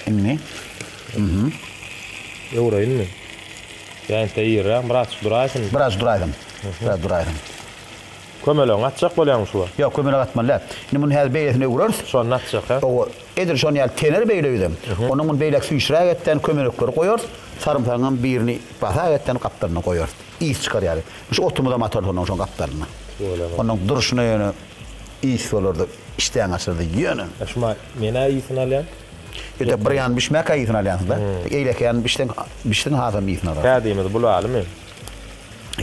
Indi. Mhm. Öwreýinmi? Ýa inte ýerem biraz duraýsyn. Biraz duraýsyn. Biraz duraýsyn. Kömelegiň atjak bolýarmy şuwa? Ýok, kömelek atmaly däl. Indi muny häzir beýlesine öwreris. Şonda atjak, hä? Owa. Edil şonuň ýaly tener beýleüzem, onuňdan beýläk süýşräk etden kömelekleri goýarys, sarymsagyňam birini basak etden gapdalyna goýarys. Ys çykar ýaly. Şu otumyzam atarys onuň şoň gapdalyna. Onuň durşuna ýöne ys bolardy, işdäňi açardy. Ýöne. Şuma men-ä ysyny alýan. Ýöte bir ýany bişmäkä ysyny alýansyňda. Eýleki ýany bişseň, bişsin hasam ysyny alarsyň. Täzemiz bulalymy?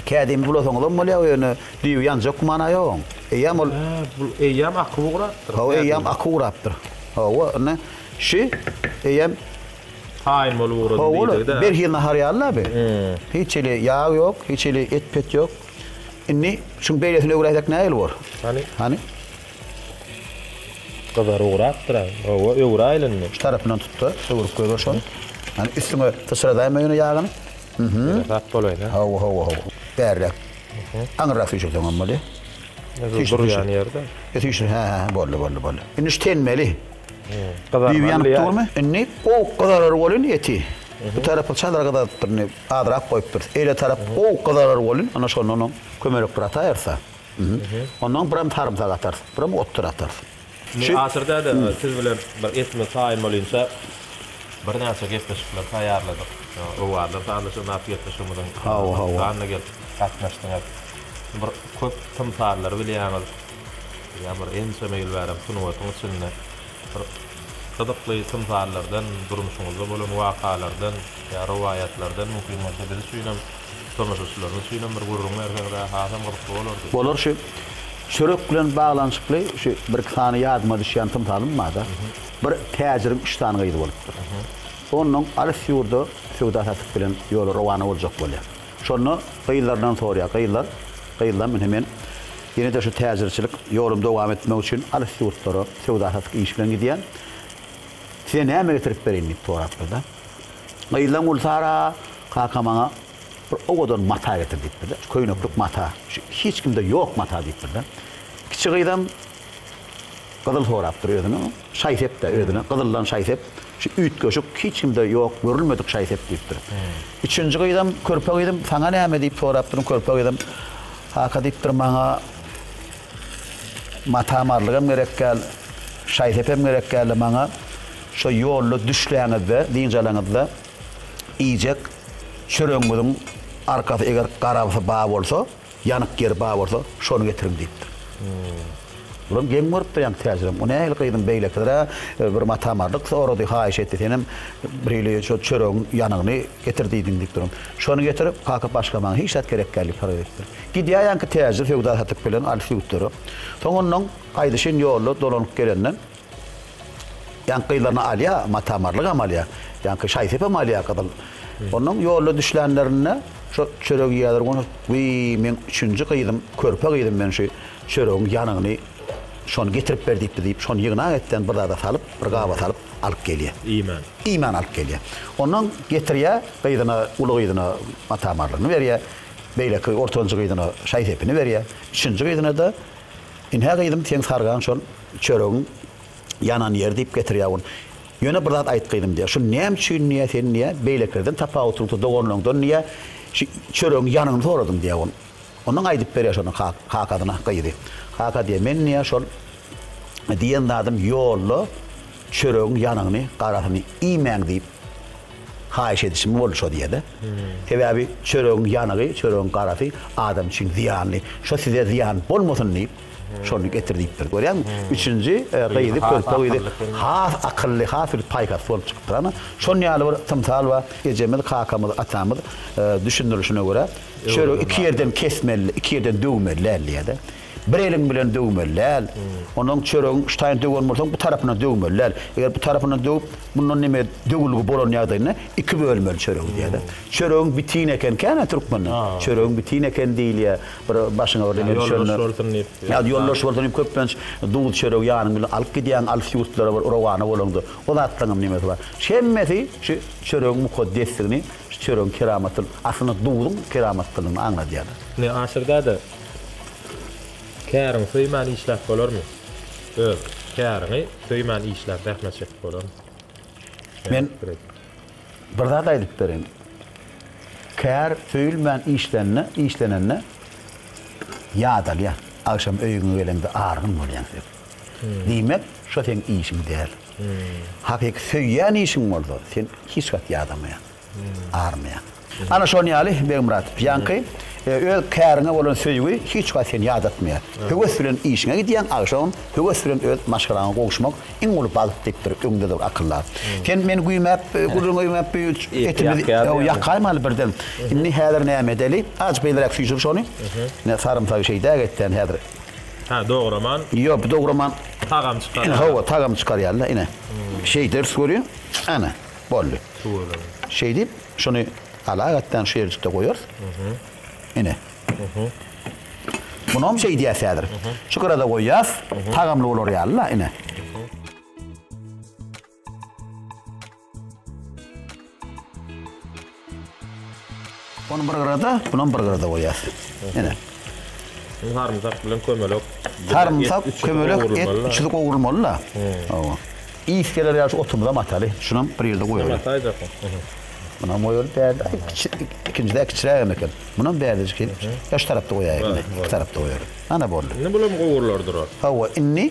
Kädimi bulasaňyzam bolýar, ýöne düýbi ýanjak gümana ýogaň. Eýýäm ol. Hä, bu eýýäm aky ugrapdyr. Hawa, eýýäm aky ugrapdyr. Hawa, ine, şi eýýäm. Haýyn bolup ugradym diýdi-de. Berhiz nahar ýaly-la bi. Hiç hili ýag ýok, hiç hili et-pet ýok. Indi şuň beýlesini öwräýsek nähili bor? Hany? Hany? Gyzar ugrapdyr-a. Hawa, öwräýeli indi. Şu tarapyndan tut-da, öwrüp goýber şony. Hany, üstüňe syçradaýma ýöne ýagyny. Bereklat bolaýsa. Hawa hawa hawa. Bärräk. Aňyrrak süýşürseň hem bolýa. Süýşür durýan ýerde. E süýşür hä hä boldy boldy boldy. Indi şu tenmeli. Gyzarmaly. Düýbi ýanyp durmy? Indi gowuk gyzarar bolýun eti. Bu tarapy çadar gyzarypdyr indi azrak goýupdyrys. Eýle tarap gowuk gyzarar bolýun. Ana şonda onuň kömelek bir ataýarys-a. Ondan biram sarymsak atarys. Biram otdur atarys. Şeý. Asyr däde, siz bilen bir etme taýyn bolynyça birnäçe gepleşikler taýýarladyk. Owazlar sazlaşygy atly gepleşigimiziň gyzyklandy gelip gatnaşdyňyz. Bir köp tymsallary bilýäňiz. Bilýän bir ençeme ýyl bärem sungatyň içinde bir gyzykly tymsallardan, durmuşyňyzda bolan wakalardan ýa rowaýatlardan mümkin bolsa biz üçinem. Tomaşaçylarymyz üçin hem bir gürrüň berseňiz-ä hasam gyzykly bolardy. Bolar şu çörek bilen baglanyşykly şu bir iki sany ýadyma düşýän tymsalym barda. Bir täjiriň üç sany gyzy bolupdyr. Onnoň alys ýurda söwda satyk bilen ýola rowana boljak bolýar. Şonda gyzlaryndan sorýar. Gyzlar, gyzlam ine men ýene-de şu täjirçilik ýolumy dowam etmek üçin alys ýurtlara söwda satyk iş bilen gidýän. Size näme getirip bereýin diýip sorapdyr-da. Gyzlaň Gülsara, Kaka maňa bir owadan mata getir diýipdir-de, şu köýneklik mata, şu hiç kimde ýok mata diýipdir-de. Kiçi gyzam gyzyl sorapdyr özüne, şaý-sep-de özüne, gyzyldan şaý-sep, şu üýtgeşik, hiç kimde ýok, görülmedik şaý-sep diýipdir. Üçünji gyzam, körpe gyzam, saňa näme diýip sorapdyr, körpe gyzam, Kaka diýipdir, maňa. Matamarlygam gerek däl, şaý-sepem gerek däldi maňa. Şo ýolda düşläňizde, dynç alaňyzda, iýjek çöregiňiziň arkasy eger garabasy bar bolsa, ýanyk ýeri bar bolsa, şony getiriň diýipdir. Bulam geň görüpdir ýaňky täjirem. O nähili gyzym beýlekidir-ä, bir matamarlyk sorady, haýyş etdi, senem birhili şo çöregiň ýanygyny getir diýdiň diýipdir. Şony getirip, kaka başga maňa hiç zat gerek däl diýip haras edipdir. Gidýäýenki täjir söwda satyp gelen alys ýurtlara. Soň onnoň gaýdyşyn ýolda dolanyp gelenden ýaňky gyzlaryny alýa, matamarlygam alýa, ýaňky şaý-sepem alýa gyzyl. Onnoň ýolda düşlänlerinde şo çöregi ýerler goňşy, Wiý, meň üçünji gyzym, körpe gyzym men şu çöregiň ýanyny şony getirip ber diýipdi diýip, şony ýygnak etden bir zada salyp, bir gaba salyp alyp gelýä. Iýman. Iýman alyp gelýä. Onnoň getirýä gyzyna, uly gyzyna matamarlygyny berýä. Beýleki ortanjy gyzyna şaý sepini berýär. Üçünji gyzyna-da, Ynha, gyzym, seň sargaň şol çöregiň ýanan ýeri diýip getirýär ony. Ýöne bir zat aýt, gyzym, diýýär, şuny näme üçin, diýýär, sen, diýýär, beýlekilerden tapawutlyňda doganlaňdan, diýýär, şu çöregiň ýanyny soradyň, diýýär, ony. Ondan aýdyp berýär şonuň kakasyna gyzy. Kaka diýýär, Men, diýýär, şol diýen zadym ýolda Çöregiň ýanyny, garasyny iýmäň diýip haýyş edişim boldy şo diýede. Sebäbi çöregiň ýanygy, çöregiň garasy adam üçin zyýanly. Şo size zyýan bolmasyn diýip, şony getir diýipdir. Görýäňmi? Üçünji gyzy, körpe gyzy has akylly, has bir paýhasly bolup çykypdyr. Ana, şon ýaly bir tymsal bar. Ejemiz, kakamyz, atamyz düşündirişine görä, çöregi iki ýerden kesmeli, iki ýerden döwmeli däl diýýärdi. Bir eliň bilen döwmeli däl. Onuň çöregiň üstaýyn döwen bolsaň, bu tarapyndan döwmeli däl. Eger bu tarapyndan döwüp, mundan neme döwülgi bolan ýagdaýynda iki bölmeli çöregi diýýärler. Çöregiň bitin ekenkä-ne türkmende? Çöregiň bitin ekeni diýilýär. Bir başyňa birdeňe düşende. Ýoldaş bolsun diýip. Ýa-da ýoldaş bolsun diýip köplenç duz çöregi ýanyň bilen alyp gidýäň, alys ýurtlara bir rowana bolaňda. O zatlaryňam nemesi bar. Şu hemmesi şu çöregiň mukaddesdigini, şu çöregiň keramatyny, aslynda duzuň keramatdygyny aňladýarlar. Ine, Aşyr däde, Käriňi söýmän işläp bolarmy? Öz, käriňi söýmän işläp zähmet çekip bolarmy? Men bir zat aýdyp bereýin. Kär söýülmän işlende, işlenende ýadalýar. Agşam öýüňe geleňde argyn bolýaň sen. Diýmek, şo seň işiň däl. Hakyky söýýän işiň bolsa, sen hiç wagt ýadamaýaň. armiýa. Ana şon ýaly, Begmyrat, ýaňky öz käriňe bolan söýgi hiç wagt seni ýadatmaýar. Höwes bilen işiňe gidýäň, agşamam höwes bilen öz maşgalaňa gowuşmak iň uly bagt diýipdir öňde dur akyllar. Sen meni güýmäp, gürrüňi öýmäp bu etimiz ýakaýmaly birden. Indi häzir näme edeli? Azajyk beýleräk süýşür şony. Ine sarymsagy şeýdäk etden häzir. Hä, dograman. Ýok, dograman. Tagam çykarýar. Hawa, tagam çykarýar-la ine. Şeýderis görüň. Ana. Boldy. Suweleme. Şeýdip, şuny ala gatdan şu ýerjikde goýarys. Ine. Munam şeý diýýäs häzir. Şu gyra-da goýýas. Tagamly bolar ýaly-la, ine. Ony bir gyrada, bunam bir gyrada goýýas. Ene. Indi sarymsak bilen kömelek. Sarymsak, kömelek, et üçüsi gowrulmaly-da. Hawa. Ys geler ýaly şu otumyzam ataly. Şunam bir ýerde goýaly. Näme ataýjaksyň? Munam goýaly bärde. Ikinjisi-de kiçirägem eken. Munam bärdejik edip, şu tarapda goýaýaly. Şu tarapda goýaly. Ana boldy. Indi bulam gowrular durar. Hawa, indi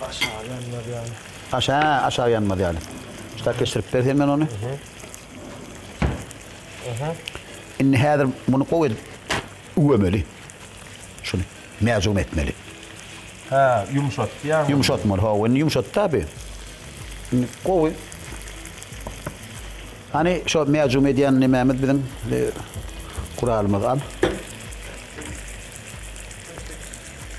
Aşagy ýanmaz ýaly. Aş hä, aşagy ýanmaz ýaly. Şu tak geçirip ber sen men ony. Indi häzir muny gowy edip üwemeli. Şuny mäjum etmeli. Hä, ýumşatdy ýaňy. Ýumşatmaly, hawa, indi ýumşatdy tabi. Indi gowy. Hany şo mäjum edýän nemämiz biziň e, guralymyz al.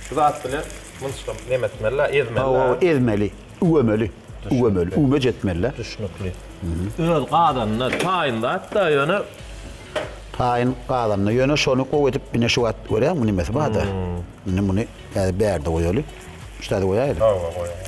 Şu zat bilen munçgam neme etmeli la, ezmeli la. Hawa, ezmeli, üwemeli, üwemeli, üwmeç etmeli la. Düşnükli. Öz gazanyna taýyn zat-da, ýöne. Taýyn gazanyna, ýöne şony gowy edip ine şu wagt görýäňmi nimesi bar-da. Indi muny häzir bärde goýaly. Şu taýda goýaýly. Hawa, goýaýaly.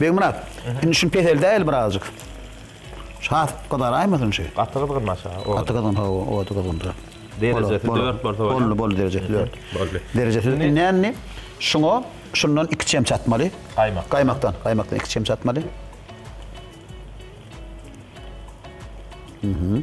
Begmyrat, indi şuny peseldäýeli birazjyk. Şat gyzaraýmasyn şi. Gaty gyzgyn aşa. Gaty gyzgyn, hawa, o gaty gyzgyn durar. Derejesi 4 bolsa bolýar. Boldy, boldy derejesi 4. Boldy. Derejesi indi näni? Şuňa şundan 2 çemçe atmaly. Gaýmak. Gaýmakdan, gaýmakdan 2 çemçe atmaly. Mhm.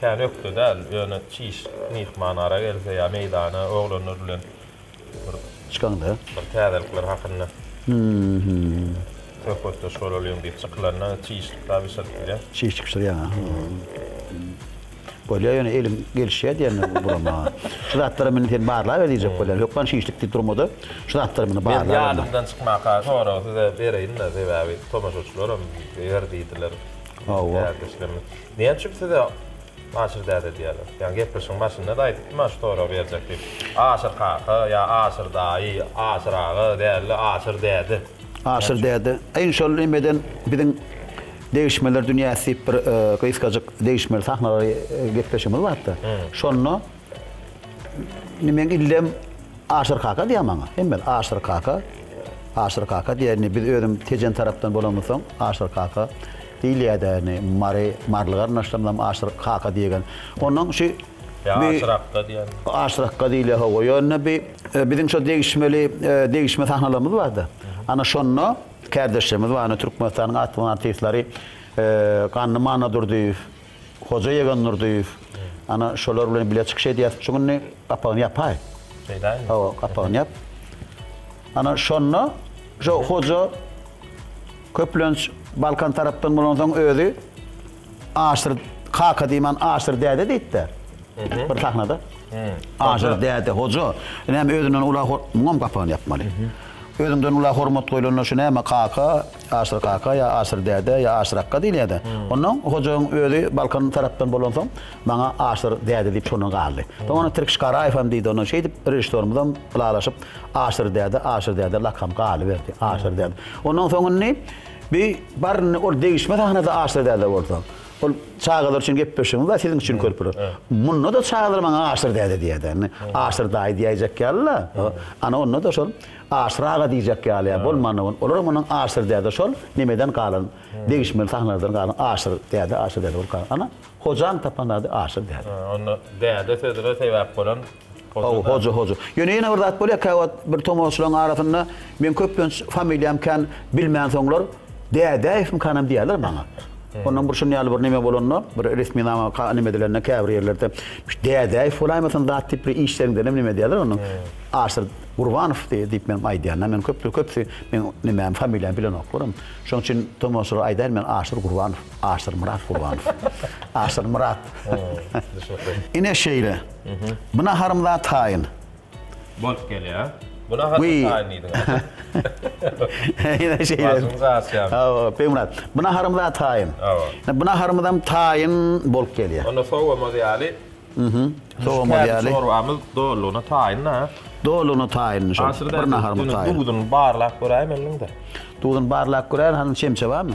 Kän ökde däl, ýöne çiş myhman ara gelse ýa meýdana oglanlar bilen bir Çykanda. bir täzelikler hakynda söhbetdeş bolalyň diýip çykylanda çişlik-de bişirip bilýär. Çişlik bişirýär, aha. Bolýar, ýöne eliň gelişýär diýende gurama. Şu zatlary meni sen barlaber diýjek bolýar. Hökman çişlik diýip durma-da, şu zatlary meni barlaber. Men ýadymdan çykmaka soragy size bereýin-de, sebäbi tomaşaçylaram biler diýdiler. Hawa. Näme üçin size Aşyr däde diýýärler? Ýa gepleşigiň başynda-da aýdypdym Aşyr sorag berjek diýip. Aşyr kaka ýa Aşyr daýy, Aşyr aga däl-de Aşyr däde. Aşyr däde. Iň şol nemeden biziň Degişmeler dünýäsi diýip bir gysgajyk degişmeli sahnalary gepleşigimiz bardy. Şonda. Indi men illem Aşyr kaka diýýär maňa. Hemme Aşyr kaka, Aşyr kaka diýýär. Indi biz özüm Tejen tarapdan bolanymyz soň Aşyr kaka diýilýär-de. Indi Mary, Marly garyndaşlarymyz hem Aşyr kaka diýgen. Ondan şu Aşyr akga diýýär. Aşyr akga diýilýär, hawa. Ýöne bi e, biziň şu degişmeli e, degişme sahnalarymyz bar-da. Ana şonda kärdeşlerimiz bar, türkmenistanyň atly artistleri e, Ganly Mannadurdyýew, Hoja Ýegen Nurdyýew, ana, şolar bilen bile çykyş edýäs. Şu günde gapagyny ýapaý. Şeýdäými? Hawa, gapagyny ýap. Ana, şonda şu hoja köplenç Balkan tarapdan bolansoň özi Aşyr kaka diýmän Aşyr däde diýipdi. Bir sahnada. Aşyr däde, hoja. Näme özünden ula hor, muňam gapagyny ýapmaly. Özüňden ula hormat goýlanda şu näme kaka, Aşyr kaka ýa Aşyr däde ýa Aşyr akga diýilýär-de. Onnoň hojagyň özi Balkan tarapdan bolansoň, maňa Aşyr däde diýip şondan galdy. Soň ony Tirkiş Garaýew hem diýdi. Ondan şeýdip, režissýorymyzam ylalaşyp, Aşyr däde, Aşyr däde lakam galyberdi. Aşyr däde. Onnoň soň indi bi bar indi ol degişme sahnada Aşyr däde bolsa. Ol çagalar üçin gepleşigimiz bar, siziň üçin körpeler. Munda-da çagalar maňa Aşyr däde diýer-de. Indi Aşyr daýy diýäýjek ýaly-la. Ana onda-da şol. Aşyr aga diýjek ýaly ýa bolmanda bol. Olar munyň Aşyr däde şol nemeden galan degişmeli sahnalardan galan Aşyr däde Aşyr däde bolup galan. Ana Hojany tapan ady Aşyr däde. Hä onda däde sözüne sebäp bolan Hoja däde. Hoja Hoja. Ýöne ýene bir zat bolýar käwagt bir tomaşaçylaryň arasynda meň köplenç familiýam kän bilmänsoňlar Dädäýewmikanam diýýärler maňa. Ondan bir şun ýaly bir neme bolanda bir resminama ka neme edilende käbir ýerlerde Dädäýew bolaýmasyn zat diýip bir işleriňdenem neme edýärler onuň Aşyr Gurbanow diýip meniň aýdýanyma meni köpler köpüsi meniň nimämi familiýamy bilenoklarm. Şonuň üçin tomaşaçylara aýdaýyn men Aşyr Gurbanow, Aşyr Myrat Gurbanow. Aşyr Myrat. Düşnükli. Ine şeýle. Bu naharym zat taýyn. Bolup gelýär. Bu nahar zat taýyn diýdiňiz. Ine şeýle. Başymyz agyrýar. Hawa, Begmyrat. Bu naharym zat taýyn. Hawa. Bu naharymyzam taýyn bolup gelýär. Onda sowamaz ýaly. Mhm. Sowamaz ýaly. Çorbamyz dolulygyna taýyn-a. Dolulygyna taýynmy şol? Bir naharma taýyn. Duzuny barlap göräýme indi. Duzuny barlap göräýin, hany çemçe barmy?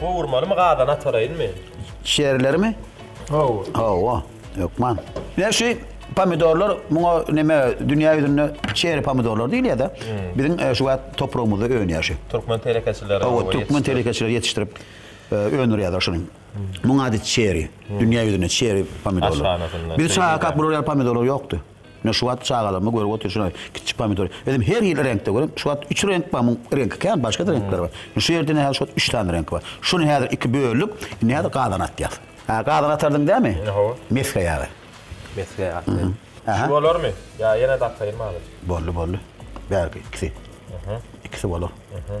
Gowurmalymy gazana ataraýynmy? Şerilerimi? Gowur. Hawa, hökman. Ýa şu pomidorlar muňa näme dünýä ýüzünde şeri pomidorlar diýilýär-de. Hmm. Biziň e, şu wagt topragymyzda önýär şu. Türkmen telekeçileri. Hawa, türkmen telekeçileri ýetişdirip e, öndürýärler şuny. Hmm. Muň ady şeri. Hmm. Dünýä ýüzünde şeri pomidorlar. Biz çaga kap bular ýaly pomidorlar ýokdy. Men şu wagt çagalarma görüp oturyşyn aý, kiçijik pomidor. Özüm her ýyl reňkde görýän. Şu wagt üç reňk bar, muň reňki kän, başga-da reňkler bar. Indi şu ýerde ine häzir şu wagt üç sany reňki bar. Şuny häzir iki böldük, indi häzir gazana atýas. Hä, gazana atardyň dämi? Hawa. Mesge ýagy. Mesge atly. Şu bolarmy? Ýa ýene-de ataýynmy azajyk? Boldy, boldy. Bärki ikisi. Ikisi bolar. Hä.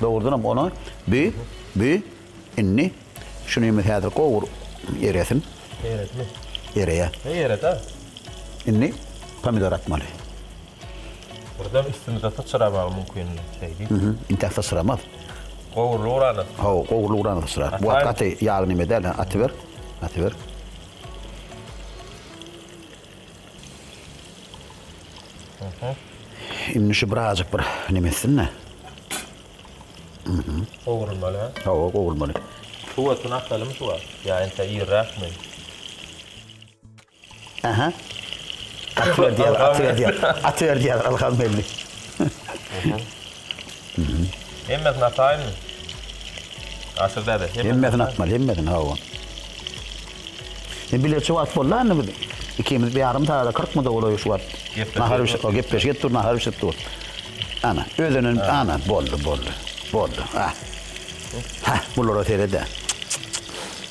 Dogrudanam ony bi, bi, indi şu nemi häzir gowur, eresin. Eretme. Ereýä. He ereda. Indi pomidor atmaly. Birden üstümize syçramagy mümkin şeýdi. Mhm, intäk syçramaz. Gowruly urana. Haw, gowruly urana syçrar. Bu gaty ýagly neme däl, atyber, atyber. Indi şu birazjyk bir neme etsin-de. Gowrulmaly, hä? Hawa, gowrulmaly. Suwasyny asalymy şu wagt? Ýa entä irräkmi? Aha. Atyberdi ýaly, atyberdi ýaly, atyberdi ýaly, Ylham geldi. Hemmesini ataýynmy? Atyr däde. Hemmesini atmaly, hemmesini hawa. Sen bileçi wagt boldy indi biz. Ikimiz bir ýarym sagat, 40 minut bolaýy şu wagt. Nahar bişirip, o gepleşip dur, nahar bişirip dur. Ana, özünin, ana, boldy, boldy. Boldy. Ha. Ha, bulara seret-ä.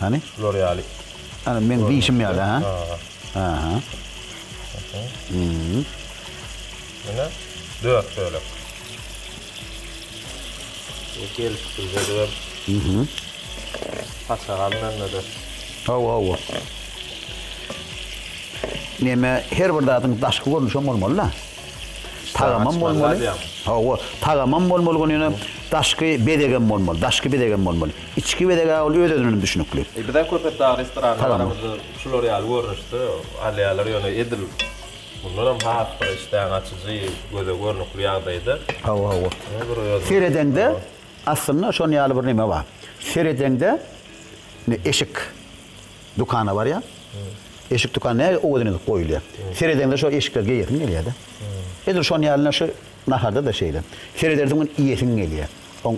Hany? Şular ýaly. Ana men diýişim ýaly, ha? Aha. Mhm. Ýene 4 bölek. Gelip bilmedi. Mhm. Paça galmanda. Hawa, hawa. Neme her bir zadyň daşky görnüşi hem bolmaly-da. Tagamam bolmaly. Hawa, tagamam bolmaly, ýöne daşky bezegem bolmaly. Daşky bezegem bolmaly. Içki bezeg-ä ol öz-özünden düşnükli. Bizem Köpetdag restoranyna baramyzda şular ýaly görnüşde alýarlar, ýöne edil mundanam has bir işdäňi açyjy, göze görnükli ýagdaýda. Hawa, hawa. Seredeňde, aslynda şonuň ýaly bir näme bar. Seredeňde, indi eşik dükana barýaň. Eşik dükan näge owadan edip goýulýar. Seredeňde şo eşikleri geýesiň gelýär-de. Edil şonuň ýaly ine şu naharda-da şeýle. Seredersiň, iýesiň gelýär. Oň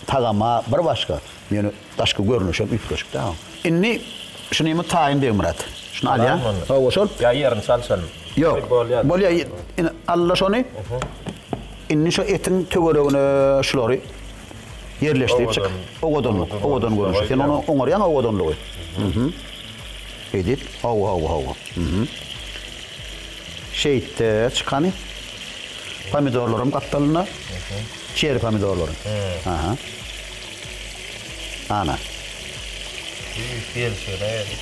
tagama bir başga, ýöne daşky görnüşem üýtgeşik-dä oň. Indi şunymy taýyn Begmyrat? Şuny alýa? Alaýmy ony? Hawa, şol. Ýa ýerini çalşalymy? Ýok. Bolýar. Bolýar. Indi al-la şony. Indi şu etiň töweregine şulary ýerleşdirip çyk. Owadanlyk. Owadan görnüşi. Sen ony oňarýaň owadanlygy. Hü-hü. Şeýdip. Hawa, hawa, hawa. Hü-hü. Şeýtde çykany pomidorlaryň gapdalynda çeri pomidorlaryň. Aha. Ana. Düýp gelşir nädip?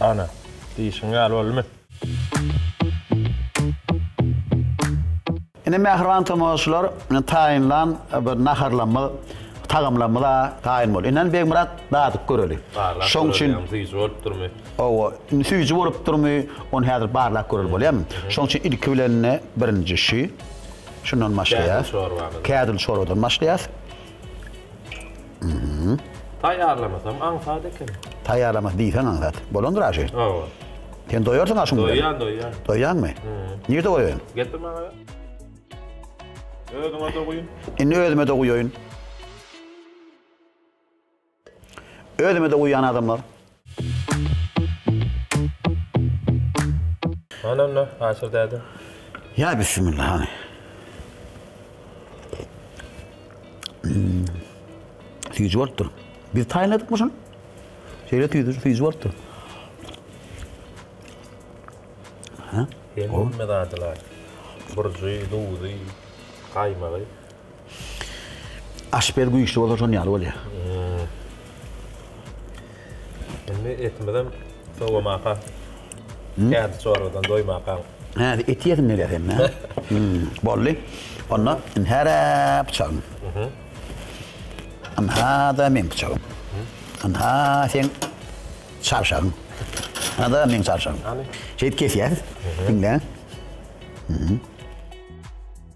Ana, diýşiň ýaly boldumy? Ine mähriban tomaşaçylar taýynlan bir naharlarymyz, tagamlarymyza taýyn bol. Inan Begmyrat dadyp göreli. Barlap Şoň üçin göreliň süýji bolupdyrmy? Hawa, indi süýji bolupdyrmy, ony häzir barlap göreli bolýarmy? Şoň üçin ilki bilen-de birinji şu. Şundan başlaýas. Kädil çorbamyz. Kädil çorbadan başlaýas. Taýýarlamasam aňsat ekeni. Taýýarlamasy diýseň aňsat. Bolandyr aşy. Hawa. Sen doýarsyň aşyň bilen. Doýýan, doýýan. Doýýaňmy? Nirde goýaýyn? Getir maňa. Özüňe-de guýun. Indi özüme-de guýaýyn. Özümede uýýan adamlar. Hany onda, Aşyr däde? Ýa bissimilla, hany. Süýji bolupdyr. Biz taýynladykmy şuny? Şeýle tüýji, süýji bolupdyr. Hä? Hemme zadylar. Burjy, duzy, gaýmagy. Aşpez güýçli bolsa şon ýaly bolýa. Indi etimizem sowamaka. Kädi çorbadan doýmaka. Hä, et iýesim gelýär hem. Boldy. Onda indi hara pyçagym. Indi hada meň pyçagym. Indi ha seň çarşagyň. Hada meň çarşagym. Şeýdip kesýäris. Diňle.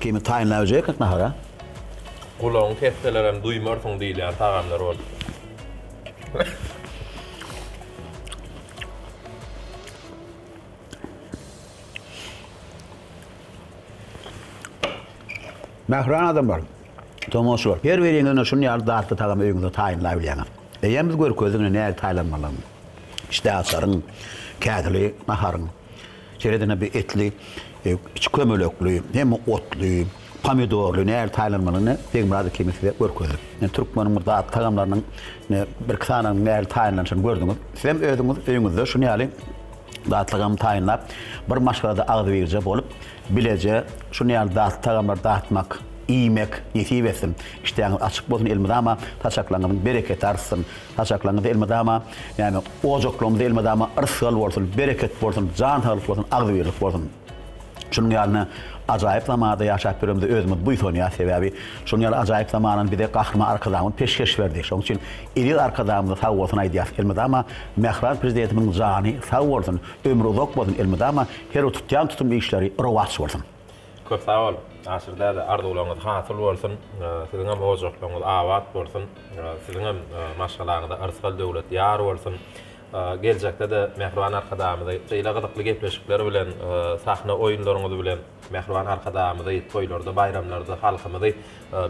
Kimi taýynlap iýjek ekmek nahara? Gulagyňy kesseler hem duýmarsyň diýilýän tagamlar bolupdyr. Mähriban adamlar, tomaşaçylar, her biriňiz ine şuny ýaly datly tagamy öýüňizde taýynlap bilýäňiz. Eýýäm biz görkezdik ine nähili taýlanmalydygyny. Işdäaçaryň, kädili naharyň. Şeýle-de bu etli, içi kömelekli, hemme otly, pomidorly nähili taýynlanmalyny Begmyrat Ekimiň size görkezdik. Indi türkmeniň bir datly tagamlarynyň birki sanynyň nähili taýynlanyşyny gördüňiz. Sizem özüňiz öýüňizde şuny ýaly datly tagamy taýynlap, bir maşgalada agzybirje bolup, bileje şuny ýaly datly tagamlary datmak, iýmek nesip etsin. Işdäňiz açyk bolsun elmydama saçaklaryňyzyň bereketi artsyn. Saçaklaryňyz elmydama, näme, ojaklarymyza elmydama yrsgal bolsun, bereket bolsun, jan saglyk bolsun, agzybirlik bolsun. Şunuň ýaly ajaýyp zamanda ýaşap ýörenimize özümiz buýsanýarys, sebäbi şunuň ýaly ajaýyp zamanany bize Gahryman Arkadagymyz peşgeş berdi. Şonuň üçin eziz Arkadagymyza sag bolsun aýdýarys. Elmydama mähriban Prezidentimiziň jany sag bolsun, ömri uzak bolsun, elmydama her bir tutýan tutumly işleri rowaç bolsun! Köp sag bol Aşyr däde arzuwlaryňyz hasyl bolsun siziňem ojaklaryňyz abat bolsun siziňem maşgalaňyza yrsgal döwlet ýar bolsun geljekdede mähriban arkadagymyzy şeýle gyzykly gepleşikler bilen sahna oýunlaryňyz bilen mähriban arkadagymyzy toýlarda baýramlarda halkymyzy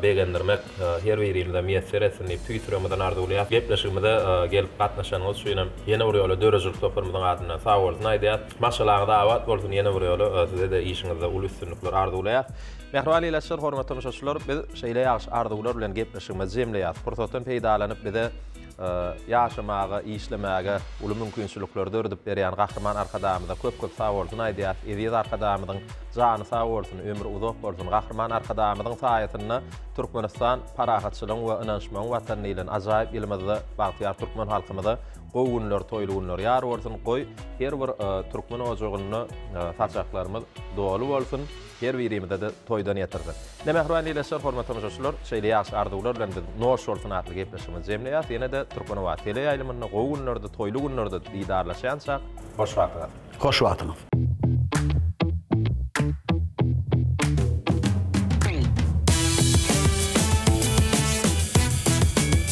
begendirmek her birimize miýesser etsin diýip tüýs ýüregimizden arzuwlaýas. Gepleşigimize gelip gatnaşanyňyz üçin hem ýene bir ýola döredijilik toparymyzyň adyndan sagbolsun aýdýas. Maşgalaňyz abat bolsun ýene bir ýola size-de işiňizde uly üstünlikler arzuwlaýas. Mähriban ildeşler, hormatly tomaşaçylar biz şeýle ýagşy arzuwlar bilen gepleşigimizi jemleýas. Pursatdan peýdalanyp bize Ýaşamaga, işlemäge uly mümkinçilikleri döredip berýän Gahryman Arkadagymyza köp-köp sagbolsun aýdýas. Eziz Arkadagymyzyň jany sag bolsun, ömri uzak bolsun. Gahryman Arkadagymyzyň saýasynda Türkmenistan parahatçylygyň we ynanyşmagyň watany diýlen ajaýyp ýylymyzda bagtyýar türkmen halkymyza gowy günler, toýly günler ýar bolsun. Goý, her bir türkmen ojagynda saçaklarymyz doly bolsun. Her birimize-de toýdan ýatyrdar. Ine, mähriban ildeşler, hormatly tomaşaçylar, şeýle ýagşy arzuwlar bilen biz Noş bolsun! atly gepleşigimizi jemleýäris. Ýene-de Türkmenabat teleýaýlymynda gowy günlerde, toýly günlerde didarlaşýançak, hoş wagtyňyz! Hoş wagtyňyz!